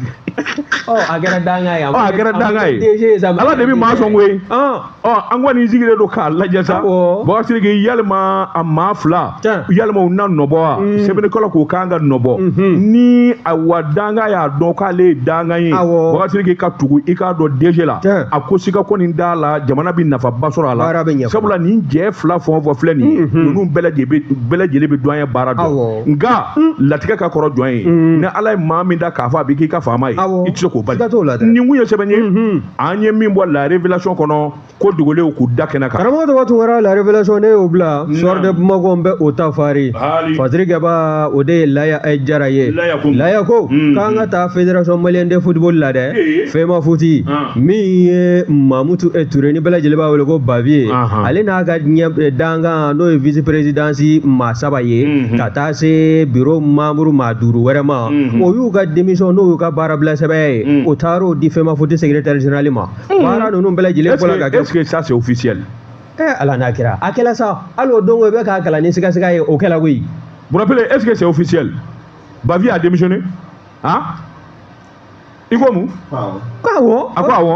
Oh, a kɛra dankan ye. Oh, a kɛra dankan ye. Ala de bɛ maa sɔn koyi. Ah. Oh, an kɔni sigilen don k'a lajɛ sa. Bubakari Sidiki yalima a maa fila yalima u na nɔbɔ wa? Hmm. Sɛbɛnnikɛla k'u kan k'a nɔbɔ. Mhm. Ni a wa dankan y'a dɔn k'ale ye dankan ye. Bubakari Sidiki ka tugu i k'a dɔn DG la. A ko siga kɔni t'a la jamana bɛ nafaba sɔrɔ a la. Sabula nin cɛ fila fɛn o fɛn filɛ nin ye mhm. ninnu bɛɛ lajɛlen bɛ duwaɲɛ baara dɔn. nka latigɛ ka kɔrɔ jɔn ye ni ala ye maa min da k'a fɔ a bɛ k'i ka faama ye i tɛ se k'o bali nin kun ye sɛbɛn ye an ye min bɔ la révélation kɔnɔ ko dogolenw k'u da kɛnɛ kan karamɔgɔ ta tun kɛra la révélation ne y'o bila Soir de Bamako n bɛ o ta faranfasili kɛbaa o de ye laya eh, jara ye laya ko mm-hmm. k'an ka taa fédération malienne de football la dɛ eh. FEMAFOOT ah. min ye mamutu eh, ture ni bɛɛ lajɛlen b'a wele ko Bavieux ale n'a ka dankan n'o ye vice présidence maa saba ye ka taa se biro membre maa duuru wɛrɛ ma o y'u ka démission n'o y'u ka baara bila sɛbɛn ye o taara o di FEMAFOOT secrétaire général ma baara ninnu bɛɛ lajɛlen bɔra ka kɛ ça c'est officiel ɛɛ ala n'a kɛra a kɛla sa hali o don ko i bɛ k'a kalan ni sigasiga ye o kɛla koyi vous rappelez est-ce que c'est officiel Bavieux a démissionné a i ko mun ko awɔ a ko awɔ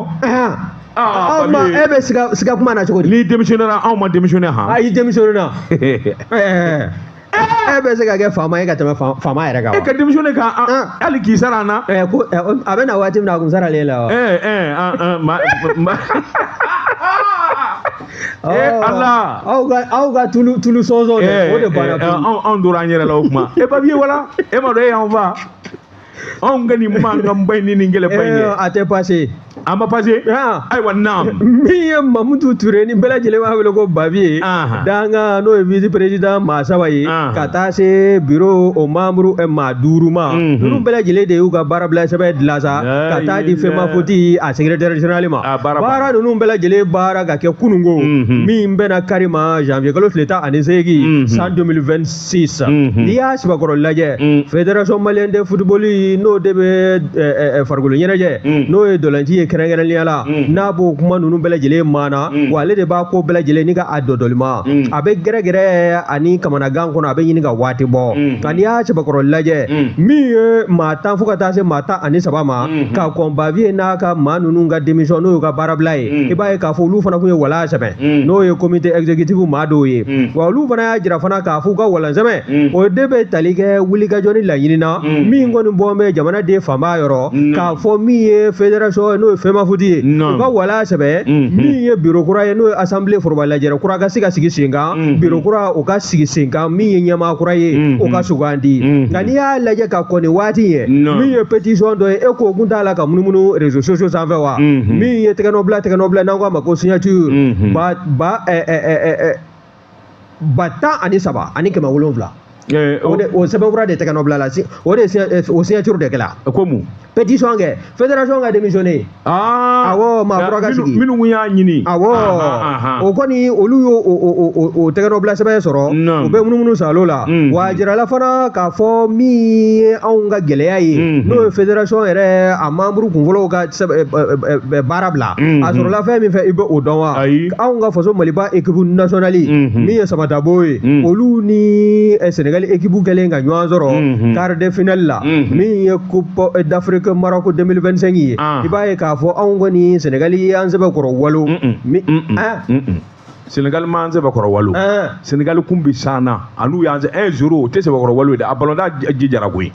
aw ma e bɛ siga siga kuma na cogo di n'i démissionnéna anw ma démissionné han ayi démissionnéna e bɛ se ka kɛ faama ye ka tɛmɛ faama yɛrɛ kan e ka démissionné kan hali k'i sara an na ko a bɛ na waati min na a kun saralen la wa ala aw ka aw ka tulu tulu sɔnsɔn o de banna anw tora an yɛrɛ la o kuma e baviye wala e m'a dɔn e y'anw fa anw ka nin mankan ba in ni nin gɛlɛn ba in ye a tɛ passé a ma passé ayiwa naam min ye mamutu ture ni bɛɛ lajɛlen b'a wele ko baviye dankan n'o ye vice président maa saba ye ka taa se biro o membre eh, maa duuru ma mhm. ninnu bɛɛ lajɛlen de y'u ka baara bila sɛbɛn dilan sa ka taa di femafoot a secrétaire général ma baara ninnu bɛɛ lajɛlen baara ka kɛ kununko mhm. min bɛnna kari ma janvier kalo tile tan ani seegin mhm. san 2026 sisan mhm. n'i y'a sɛbɛkɔrɔ lajɛ mhm. fédération malienne de football n'o de bɛ eh, eh, eh, farikolo ɲɛnajɛ mhm. n'o ye ntolaci ye kɛrɛnkɛrɛnnenya la n'a b'o kuma ninnu bɛɛ lajɛlen maana wa ale de b'a ko bɛɛ lajɛlen ni ka a dɔdɔlima a bɛ gɛrɛgɛrɛ ani kamanagan kɔnɔ a bɛ ɲini ka waati bɔ nka n'i y'a sɛbɛkɔrɔ lajɛ min ye maa tan fo ka taa se maa tan ani saba ma ka kɔn baviye n'a ka maa ninnu ka démission n'o y'u ka baarabila ye i b'a ye k'a fɔ olu fana tun ye wala sɛbɛn Mm. n'o ye komite ɛgizekitifu maa dɔw ye mm. wa olu fana y'a jira fana k'a f'u ka walan sɛbɛn mm. o de bɛ tali kɛ wulikajɔ ni laɲini na min kɔni bɔlen bɛ jamanaden fanba yɔrɔ k'a fɔ min ye federasɔn ye n'o ye femafoot ye u ka wala sɛbɛ mm-hmm. min ye biro kura ye n'o ye asanbile foroba lajɛrɛ kura ka se ka sigi sen kan mm-hmm. biro kura o ka sigi sen kan min ye ɲɛmaa kura ye mm-hmm. o ka sugandi nka n'i y'a lajɛ ka kɔn nin waati ɲɛ min ye petisɔn dɔ ye e k'o kun t'a la ka munumunu rezo sosiyo sanfɛ wa min ye tɛgɛnɔbila tɛgɛnɔbila n'an k'a ma ko signature mhm. ba ba eh, eh, eh, ba tan ani saba ani kɛmɛ wolonwula o sɛbɛnfura de tɛgɛ nɔ bila la o de o signature de kɛla ko mun pétition kɛ fédération ka démissionné ah. awɔ maa kura ka sigi minnu y'a ɲini awɔ o kɔni olu y'o o tɛgɛ nɔ bila sɛbɛn sɔrɔ u bɛ munumunu salo la mm. wa a jirala fana k'a fɔ min ye anw ka gɛlɛya ye mm-hmm. n'o ye fédération yɛrɛ a membre kunfɔlɔw ka baara bila a sɔrɔla fɛn min fɛ i bɛ o dɔn wa Ayi. anw ka faso maliba ekipu nasɔnali Mhm. min ye samatabo ye Mhm. olu ni eh, senegali ekipu kɛlen ka ɲɔgɔn sɔrɔ Mhm. quart de finale la Mhm. min ye coupe eh, d'afrique maroko 2025 ye Ah. i b'a ye k'a fɔ anw kɔni senegali ye an sɛbɛkɔrɔ walon Mm-mm. Mi- Mm-mm. Ah, Mm-mm. senegali ma an sɛbɛkɔrɔ walo senegali kun bi san na an'u y'an sɛ un zéro o tɛ sɛbɛkɔrɔ walo ye dɛ a balontan jijara koyi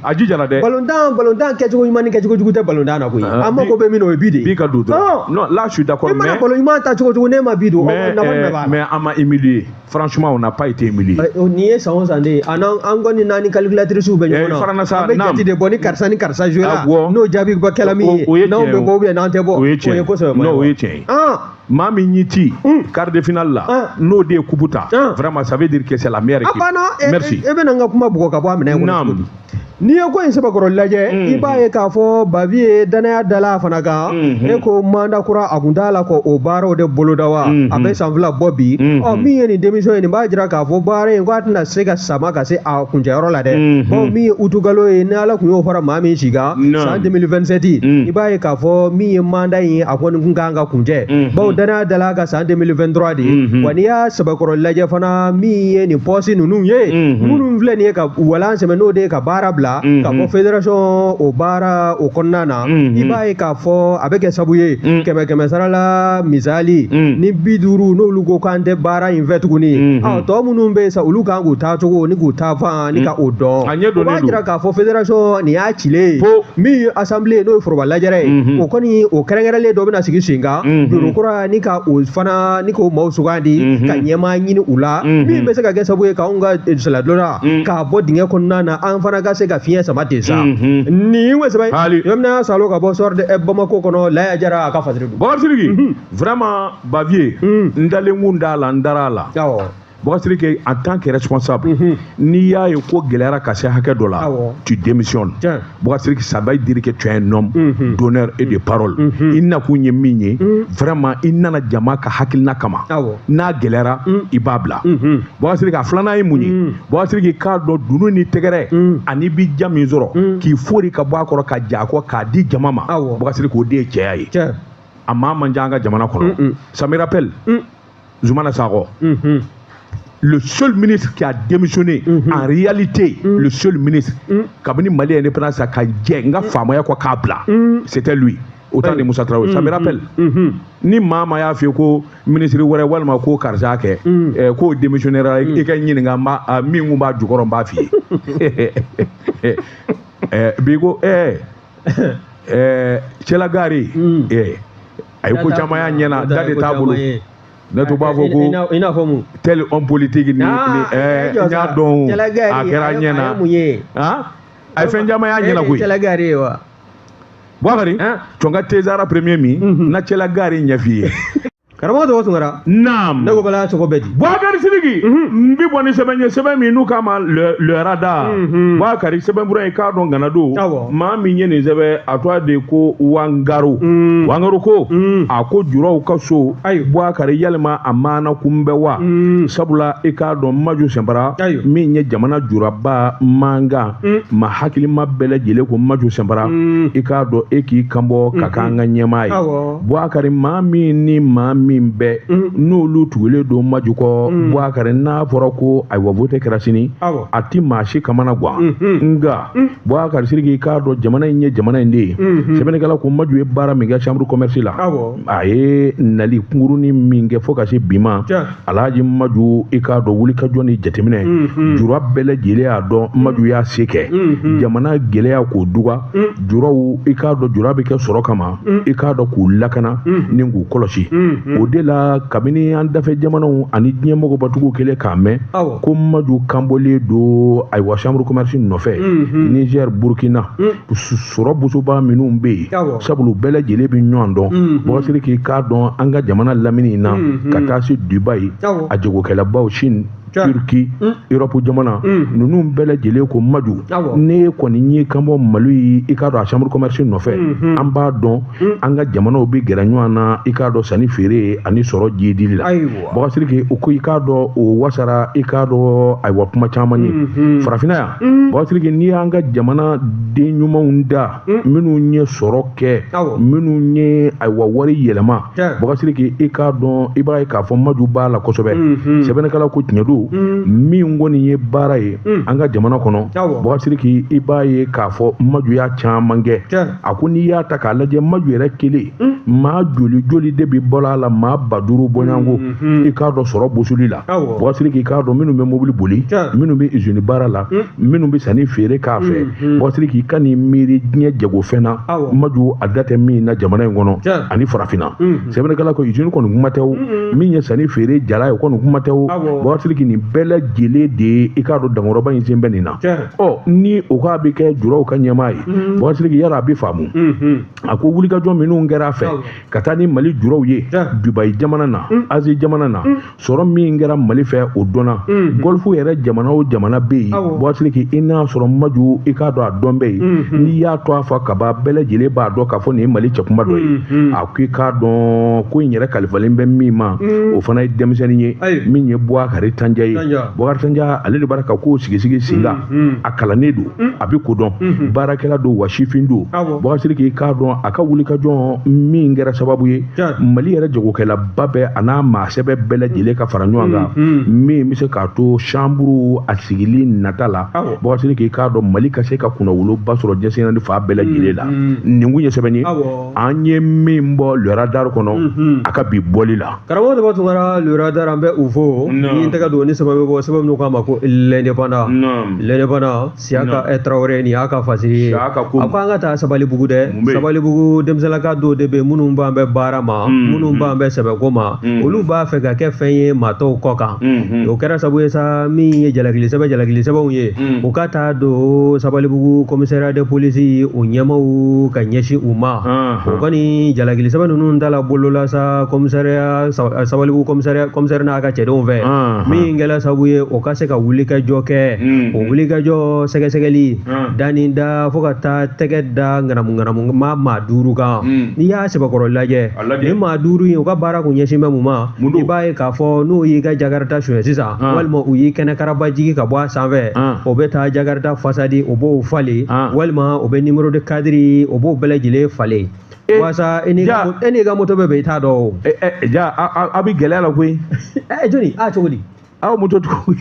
a jijara dɛ balontan balontan kɛcogo ɲuman ni kɛcogo jugu tɛ balontan na koyi an mako bɛ min na o ye bi de ye bi ka don dɔrɔn non là je suis d'accord mais i mana balon ɲuman tan cogo o cogo n'i ma bi don mais mais an ma humilié franchement on n'a pas été humiliés nin ye san o san de ye a n'an an kɔni n'an ni calculatrice bɛ ɲɔgɔn na farana sa an bɛ jate de bɔ ni karisa ni karisa jouer la n'o jaabi bɛ kɛla min ye n'anw bɛ bɔ ou bien n'an tɛ bɔ o ye tiɲɛ ye o ye kosɛbɛ non o ye tiɲɛ ye maa min y'i ci quart de finale la n'o de ye kupu ta vraiment ça veut dire que c'est la meilleure équipe merci e bɛna n ka kuma bugɔ ka bɔ a minɛ kɔnɔ naam n'i ye ko in sɛbɛkɔrɔ lajɛ i b'a ye k'a fɔ baviye danaya dala a fana kan e ko manda kura a kuntaala ka o baaraw de boloda wa a bɛ san fila bɔ bi ɔ min ye nin démission ye nin b'a jira k'a fɔ baara in ko a tɛna se ka sama ka se a kuncɛyɔrɔ la dɛ ɔ min ye utikalo ye ni ala kun y'o fara maa min si kan san 2027 i b'a ye k'a fɔ min ye manda in ye a kɔni kun kan ka kuncɛ bawo danaya dala ka san 2023 de ye wa n'i y'a sɛbɛkɔrɔ lajɛ fana min ye nin pɔsi ninnu ye minnu filɛ nin ye ka walan sɛmɛ n'o de ye ka baara bila k'a fɔ fédération o baara o kɔnɔna na i b'a ye k'a fɔ a bɛ kɛ sabu ye kɛmɛ kɛmɛ sara la misali ni bi duuru n'olu ko k'an tɛ baara in fɛ tuguni tɔ minnu bɛ yen sa olu kan k'u taacogo ni k'u taafan ani ka o dɔn a ɲɛ dɔnnen don o b'a jira k'a fɔ fédération nin y'a cilen ye fo min ye assemblée ye n'o ye foroba lajɛrɛ ye mhm. o kɔni o kɛrɛnkɛrɛnlen dɔ bɛna sigi sen kan mhm. biro kura ni ka o fana ni k'o maaw sugandi mhm. ka ɲɛmaa ɲini u la min bɛ se ka kɛ sababu ye k'anw ka eh, sennantola k'a bɔ dingɛ kɔnɔna na an fana ka se ka fiɲɛ sama ten sa nin ye sɛbɛn yɔrɔ min y'a salo ka bɔ sɔrɔ eh, bamako kɔnɔ laya jara a ka fasiri don bakari sidiki vraiment baviye n dalen kun t'a la n dara a la Bakari Sidiki en tant que responsable mhm. n'i y'a ye ko gɛlɛyara ka se hakɛ dɔ la tu démissionnes Bakari Sidiki ça veut dire que tu es un homme mhm. d'honneur et de mhm. parole i nakun ye min ye vraiment i nana jama ka hakilina kama n'a gɛlɛyara i b'a bila Bakari Sidiki a filanan ye mun ye Bakari Sidiki ka dɔn dunun ni tɛgɛrɛ ani i bɛ diya min sɔrɔ k'i fori ka bɔ a kɔrɔ ka jɛn a kɔ k'a di jama ma Bakari Sidiki o de ye cɛya ye a maa man ca an ka jamana kɔnɔ ça me rappelle Zoumana Sacko. Mhm. Le seul ministre qui a démissionné mhm. en réalité, mhm. le seul ministre, kabini Mali indépendance a ka jɛn a ka faamaya kɔ k'a bila, c'était lui. au temps de Moussa Traoré ça me rappelle ni maa o maa y'a f'i ye ko minisiri wɛrɛ walima ko karisa kɛ eh, k'o démissionnera i k'a ɲininka n b'a min kun b'a jukɔrɔ n b'a f'i ye bi ko ɛɛ ɛɛ cɛlagari ɛɛ a ye ko caman y'a ɲɛ na da de t'a bolo ne tun b'a fɔ ko i n'a fɔ mun tel homme politique ni ɛɛ n y'a dɔn a kɛra ɲɛ na a ye fɛn caman y'a ɲɛ na koyi cɛlagari ye wa Buakari, cɔnka tezara premier min na cɛlagari ɲɛf'i ye karamɔgɔ tɔgɔ tunkara naam ne ko bala tɔgɔ bɛ di buwakari sidiki n bɛ bɔ ni sɛbɛn ye sɛbɛn min n'u k'a ma le radar buwakari sɛbɛnfura i k'a dɔn gana don maa min ye nin sɛbɛn a tɔgɔ de ko wangaro wangaro ko a ko juraw ka so ayi buwakari yalima a maana kun bɛ wa sabula i k'a dɔn maju sɛnpara min ye jamana juraba mankan ma hakilima bɛɛ lajɛlen ko maju sɛnpara i k'a dɔn e k'i kanbɔ ka k'an ka ɲɛmaa ye Buwakari maa min ni maa min bɛɛ n'olu tugulen don maju kɔ Buwakari n'a fɔra ko ayiwa vote kɛra sini a tɛ maa si kamana gan nka Buwakari siriki i k'a dɔn jamana in ye jamana in de ye sɛbɛnnikɛla ko maju ye baara min kɛ chambre commerce la a ye nali kunkurunnin min kɛ fo ka se bi ma alhaji maju i k'a dɔn wulikajɔ ni jateminɛ mhm. jura bɛɛ lajɛlen y'a dɔn maju y'a se kɛ mhm. jamana gɛlɛya k'o duga mhm. juraw i k'a dɔn jura bɛ kɛ sɔrɔ kama i k'a dɔn k'u lakana ni k'u kɔlɔsi o de la kabini an dafɛ jamanaw ani diɲɛ mɔgɔbatigiw kɛlen k'a mɛn ko maju kanbɔlen don ayiwa chambre commerce nɔfɛ niger burkina sɔrɔ bosoba minnu bɛ yen sabu bɛɛ lajɛlen bɛ ɲɔgɔn dɔn buwakari siriki i k'a dɔn an ka jamana lamini in na ka taa se dubayi a jagokɛlabaw sini turki erɔpu jamana ninnu bɛɛ lajɛlen ko maju n'e kɔni y'i kanbɔ mali ye i k'a dɔn a chambre commerce nɔfɛ an b'a dɔn an ka jamanaw bɛ gɛrɛ ɲɔgɔn na i k'a dɔn sanni feere ani sɔrɔ jidili la Buwakari siriki u ko i k'a dɔn o wasara i k'a dɔn ayiwa kuma caman ye farafinna yan buwakari siriki n'i y'an ka jamana den ɲumanw da minnu ye sɔrɔ kɛ minnu ye ayiwa wari yɛlɛma buwakari siriki i k'a dɔn i b'a ye k'a fɔ maju b'a la kosɛbɛ sɛbɛnnikɛla ko tiɲɛ don min kɔni ye baara ye an ka jamana kɔnɔ buwakari siriki i b'a ye k'a fɔ maju y'a caman kɛ a ko n'i y'a ta k'a lajɛ maju yɛrɛ kelen Hmm. maa joli joli de bɛ balo a la maa ba duuru bɔɲɔgɔnko hmm, hmm, i k'a dɔn sɔrɔ bosoli la buwakari siriki i k'a dɔn minnu bɛ mobili boli minnu bɛ izini baara la minnu bɛ sanni feere k'a fɛ buwakari siriki i kan'i miiri diɲɛ jagofɛn na maju a da tɛ min na jamana in kɔnɔ ani farafinna sɛbɛnnikɛla ko izini kɔni kuma tɛ o min ye sanni feere jala ye o kɔni kuma tɛ o buwakari siriki nin bɛɛ lajɛlen de ye i k'a dɔn dankɔrɔba in sen bɛ nin na ɔ ni o k'a bɛ kɛ juraw ka ɲɛmaa ye buwakari siriki yala a bɛ faamu a ko wulikajɔ minnu kɛra a fɛ ka taa ni mali juraw ye dubayi jamana na mm. azi jamana na mm. sɔrɔ min kɛra mali fɛ o dɔnna mm. gɔlifu yɛrɛ jamana o jamana bɛ yen buwakari siriki i n'a sɔrɔ maju i k'a dɔn a dɔn bɛ yen mm-hmm. n'i y'a tɔgɔ fɔ ka ban bɛɛ lajɛlen b'a dɔn k'a fɔ nin ye mali cɛkunba dɔ ye mm-hmm. a ko i k'a dɔn ko in yɛrɛ kalifalen bɛ min ma o fana ye denmisɛnnin ye min ye buwakari tanja ye buwakari tanja ale de b'a ka kow sigisigi sen kan hmm. a kalannen don hmm. a bɛ kodɔn hmm. baarakɛla don wa sifin don boubacar sidiki i k'a dɔn a ka wulikajɔ min kɛra sababu ye mali yɛrɛ jagokɛlaba bɛɛ a n'a maasɛbɛ bɛɛ lajɛlen ka fara ɲɔgɔn kan min bɛ se k'a to chambre a sigili nata la boubacar sidiki i k'a dɔn mali ka se ka kunnawoloba sɔrɔ diɲɛ seleke naani fan bɛɛ lajɛlen la nin kun ye sɛbɛn ye an ye min bɔ le radar kɔnɔ a ka bi bɔli la karamɔgɔ demba tounkara le radar an bɛ u fo ni tɛgɛ don ni sɛbɛn bɔ sɛbɛn min k'a ma ko l'indépendant l'indépendant siyaka eh, tarawele nin y'a ka fasiri ye a ko an ka taa sabalibugu dɛ sabalibugu denmisɛnninlaka dɔw de bɛ minnu ban bɛ baara ma mm, minnu mm. ban bɛ sɛbɛko ma mm. olu b'a fɛ ka kɛ fɛn ye maa tɔw kɔ kan mm-hmm. o kɛra sabu ye sa min ye jalakili sɛbɛ jalakili sɛbɛnw ye u ka taa don sabalibugu commissariat de police u ɲɛmaaw ka ɲɛsin u ma ah. o kɔni jalakili sɛbɛn ninnu dala bolola sa commissariat sabalibugu commissariat commissaire n'a ka cɛdenw fɛ min kɛla sababu ye o ka se ka wulikajɔ kɛ o wulikajɔ sɛgɛsɛgɛli da ni da fo ka taa tɛgɛ da ŋanamuŋanamu maa maa duuru kan n'i y'a sɛbɛkɔrɔ lajɛ nin maa duuru in u ka baara kun ɲɛsin bɛ mun ma Mun i b'a ye k'a fɔ n'o y'i ka jakarita sonya sisan walima u y'i kɛnɛ karaba jigi ka bɔ a sanfɛ o bɛ taa jakarita façade o b'o falen walima o bɛ numéro de cadre o b'o bɛɛ lajɛlen falen walasa e n'i ka moto bɛ bɛn i t'a dɔn ja a bɛ gɛlɛya la koyi jɔnni a cogo di aw moto tugu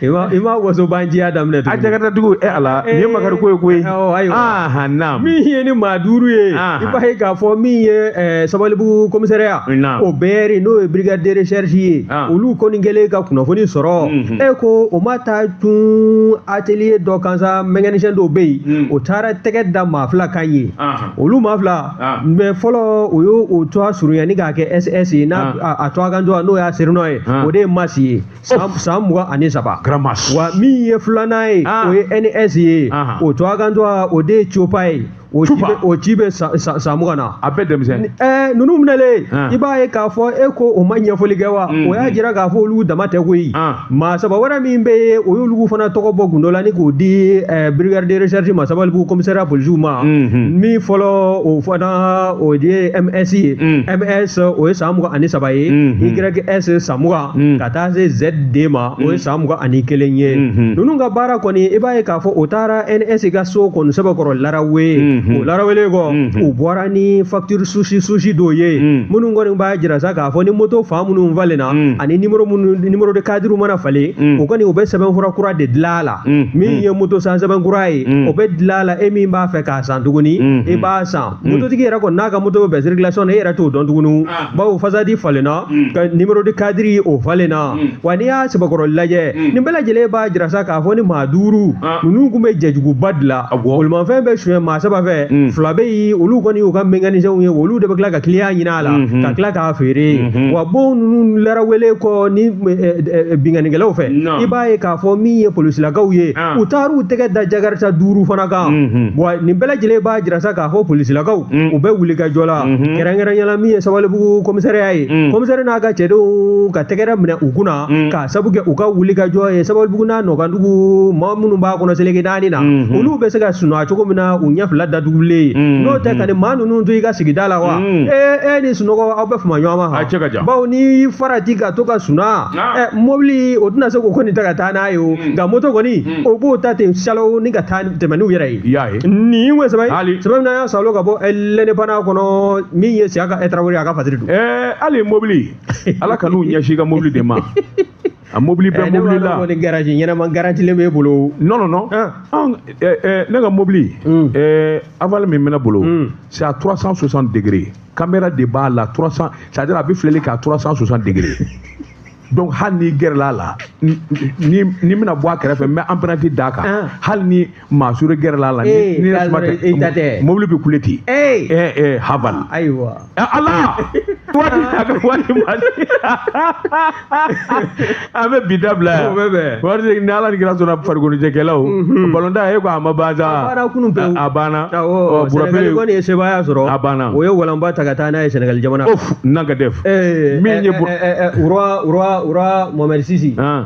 i ma waso banjiya daminɛ a jakarita tigiw ala nin ye eh, makari ko ye koyi ayiwa ah, naam min ye ni maa duuru ye i b'a ye k'a fɔ min ye eh, sabalibugu commissariat o br n'o ye brigade de recherche ye ah. olu kɔni kɛlen ka kunnafoni sɔrɔ mhm. e ko o ma taa tun atelier dɔ kan sa mécanicien dɔw bɛ yen mm. o taara tɛgɛ da maa fila kan yen olu maa fila Ah. min ye fɔlɔ o y'o o tɔgɔ surunya ni k'a kɛ ss ye n'a ah. a- a tɔgɔ kan tɔgɔ n'o y'a surnom ye Ah. o de ye masi ye san san mugan ani saba Gramas. wa min ye filanan ye Ah. o ye ns ye Ah. o tɔgɔ kan tɔgɔ o de ye copa ye o si Copa. bɛ- o si bɛ san- san san mugan na A bɛɛ denmisɛn. ɛɛ ninnu minɛlen Ah. i b'a ye k'a fɔ e ko o ma ɲɛfɔli kɛ wa Mm. o y'a jira k'a fɔ olu dama tɛ koyi Ah. maa saba wɛrɛ min bɛ o y'olu fana tɔgɔ bɔ gundo la ni k'o di eh, brigade de recherche ma sabalibugu commissariat polisiw ma mhm. min fɔlɔ o fana o ye ms ye ms mhm. o ye san mugan ani saba ye mhm. ys san mugan ka taa se zd ma o ye san mugan ani kelen ye ninnu ka baara kɔni i b'a ye k'a fɔ o taara ns ka so kɔni sɛbɛkɔrɔ larawe o larawelen kɔ u bɔra ni facture susi susi dɔw ye minnu kɔni b'a jira sa ka a fɔ ni moto fan minnu falenna mm. ani nimoro minnu numéro de cadre mana falen mm. o kɔni o bɛ sɛbɛnfura kura de dilan a la mm. min mm. ye moto san sɛbɛn kura ye mm. o bɛ dilan a la e min b'a fɛ k'a san tuguni mm. Mm-hmm. i e b'a san mm. mototigi yɛrɛ kɔni n'a ka moto bɛ circulation na e yɛrɛ t'o dɔn tuguni ah. bawo façade falenna mm. ka numéro de cadre o falenna mm. wa n'i y'a sɛbɛkɔrɔ lajɛ mm. nin bɛɛ lajɛlen b'a jira sa k'a fɔ ni maa duuru ah. ninnu tun bɛ jɛjuguba de la bolimafɛn bɛ suɲɛ maa saba fɛ mm. fila bɛ yen olu kɔni y'u ka mécanicien ye olu de bɛ tila ka client ɲini la mhm. ka tila k'a feere mhm. wa bon ninnu larawele kɔ ni eh, eh, eh, binkannikɛlaw fɛ i b'a ye k'a fɔ min ye polisilakaw ye ah. u taar'u tɛgɛ da jakarta duuru fana kan mhm. wa nin bɛɛ lajɛlen b'a jira sa k'a fɔ polisilakaw mm. u bɛ wulikajɔ la kɛrɛnkɛrɛnya la min ye sabalibugu komisariya ye mm. komisari n'a ka cɛdenw ka tɛgɛrɛ minɛ u kunna mm. k'a sabu kɛ u ka wulikajɔ ye sabalibugu n'a nɔkandugu maa minnu b'a kɔnɔ seleke naani na olu bɛ se ka sunɔgɔ cogo min na u ɲɛ fila datugulen n'o tɛ ka nin maa ninnu to i ka sigida la wa Hmm. e ni sunɔgɔ aw bɛ fama ɲɔgɔn ma cɛ ka jan bawo n'i farati ka to ka suna ɛ mɔbili o tɛna se k'o kɔni ta ka taa n'a ye o hmm. nka moto kɔni hmm. o b'o ta ten salo ni ka taa tɛmɛ n'u yɛrɛ ye i y'a ye nin ko sɛbɛn sɛbɛn min na y'a salo ka bɔ L'Indépendant kɔnɔ min ye siaka tarawele a ka fasiri don ɛɛ hali mɔbili ala kan'u ɲɛsin i ka mɔbili de ma a mobili bɛɛ eh, mobili la ni garaji ɲɛnama garantilen b'e bolo non non non ah. ah, eh, eh, ne ka mobili hmm. Haval min bɛ ne bolo hmm. c'est à 360 degrés caméra de b'a la 300 c'est à dire a bɛ filɛli kɛ à 360 degrés donc hali n'i gɛrɛla a la ni n bɛna bɔ a kɛrɛfɛ n bɛ empreinte d'a kan ah. hali ni maa sure gɛrɛla a la ni Ee, ni k'a suma sɔrɔ i ta tɛ. mobili bɛ kule ten Ee! ɛɛ ɛɛ Haval ayiwa Eh, ala wari a bɛ wari ma an bɛ bi dabila yan O bɛ bɛn. wari de ni ala ni kira sɔnna farikoloɲɛnajɛkɛlaw balontan e ko a ma ban sa A banna kunu pewu. a banna awɔ Ɔ, Burapele- sɛnɛgali kɔni ye sebaaya sɔrɔ A banna. o ye walanba ta ka taa n'a ye sɛnɛgali jamana of nanga dɛf Ee, Min ye ɛ, bu- ɛ, ɛ, ɛ, Roi- Roi- Roi Mohamed Six Ah.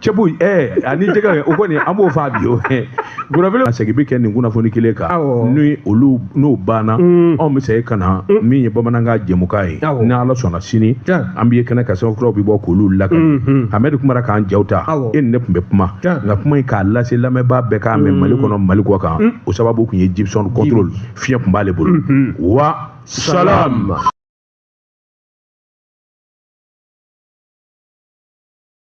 cɛbu ɛɛ ani jɛgɛ o kɔni an b'o fa bi o gɔnɔbele segin bɛ kɛ nin kunnafoni kelen kan ni olu n'o banna mm. anw bɛ segin ka na mm. min ye bamanankan jɛmukan ye ni ala sɔnna sini an bɛ ye kɛnɛ kan sɛbɛnfuraw bɛ bɔ k'olu lakali mm-hmm. hamɛdi kumara k'an jaw ta e ni ne tun bɛ kuma nka kuma in k'a lase lamɛnbaa bɛɛ k'a mɛn mm. mali kɔnɔ mali kɔ kan o sababu tun ye jibisɔn contrôle fiɲɛ tun b'ale bolo mm-hmm. wa salam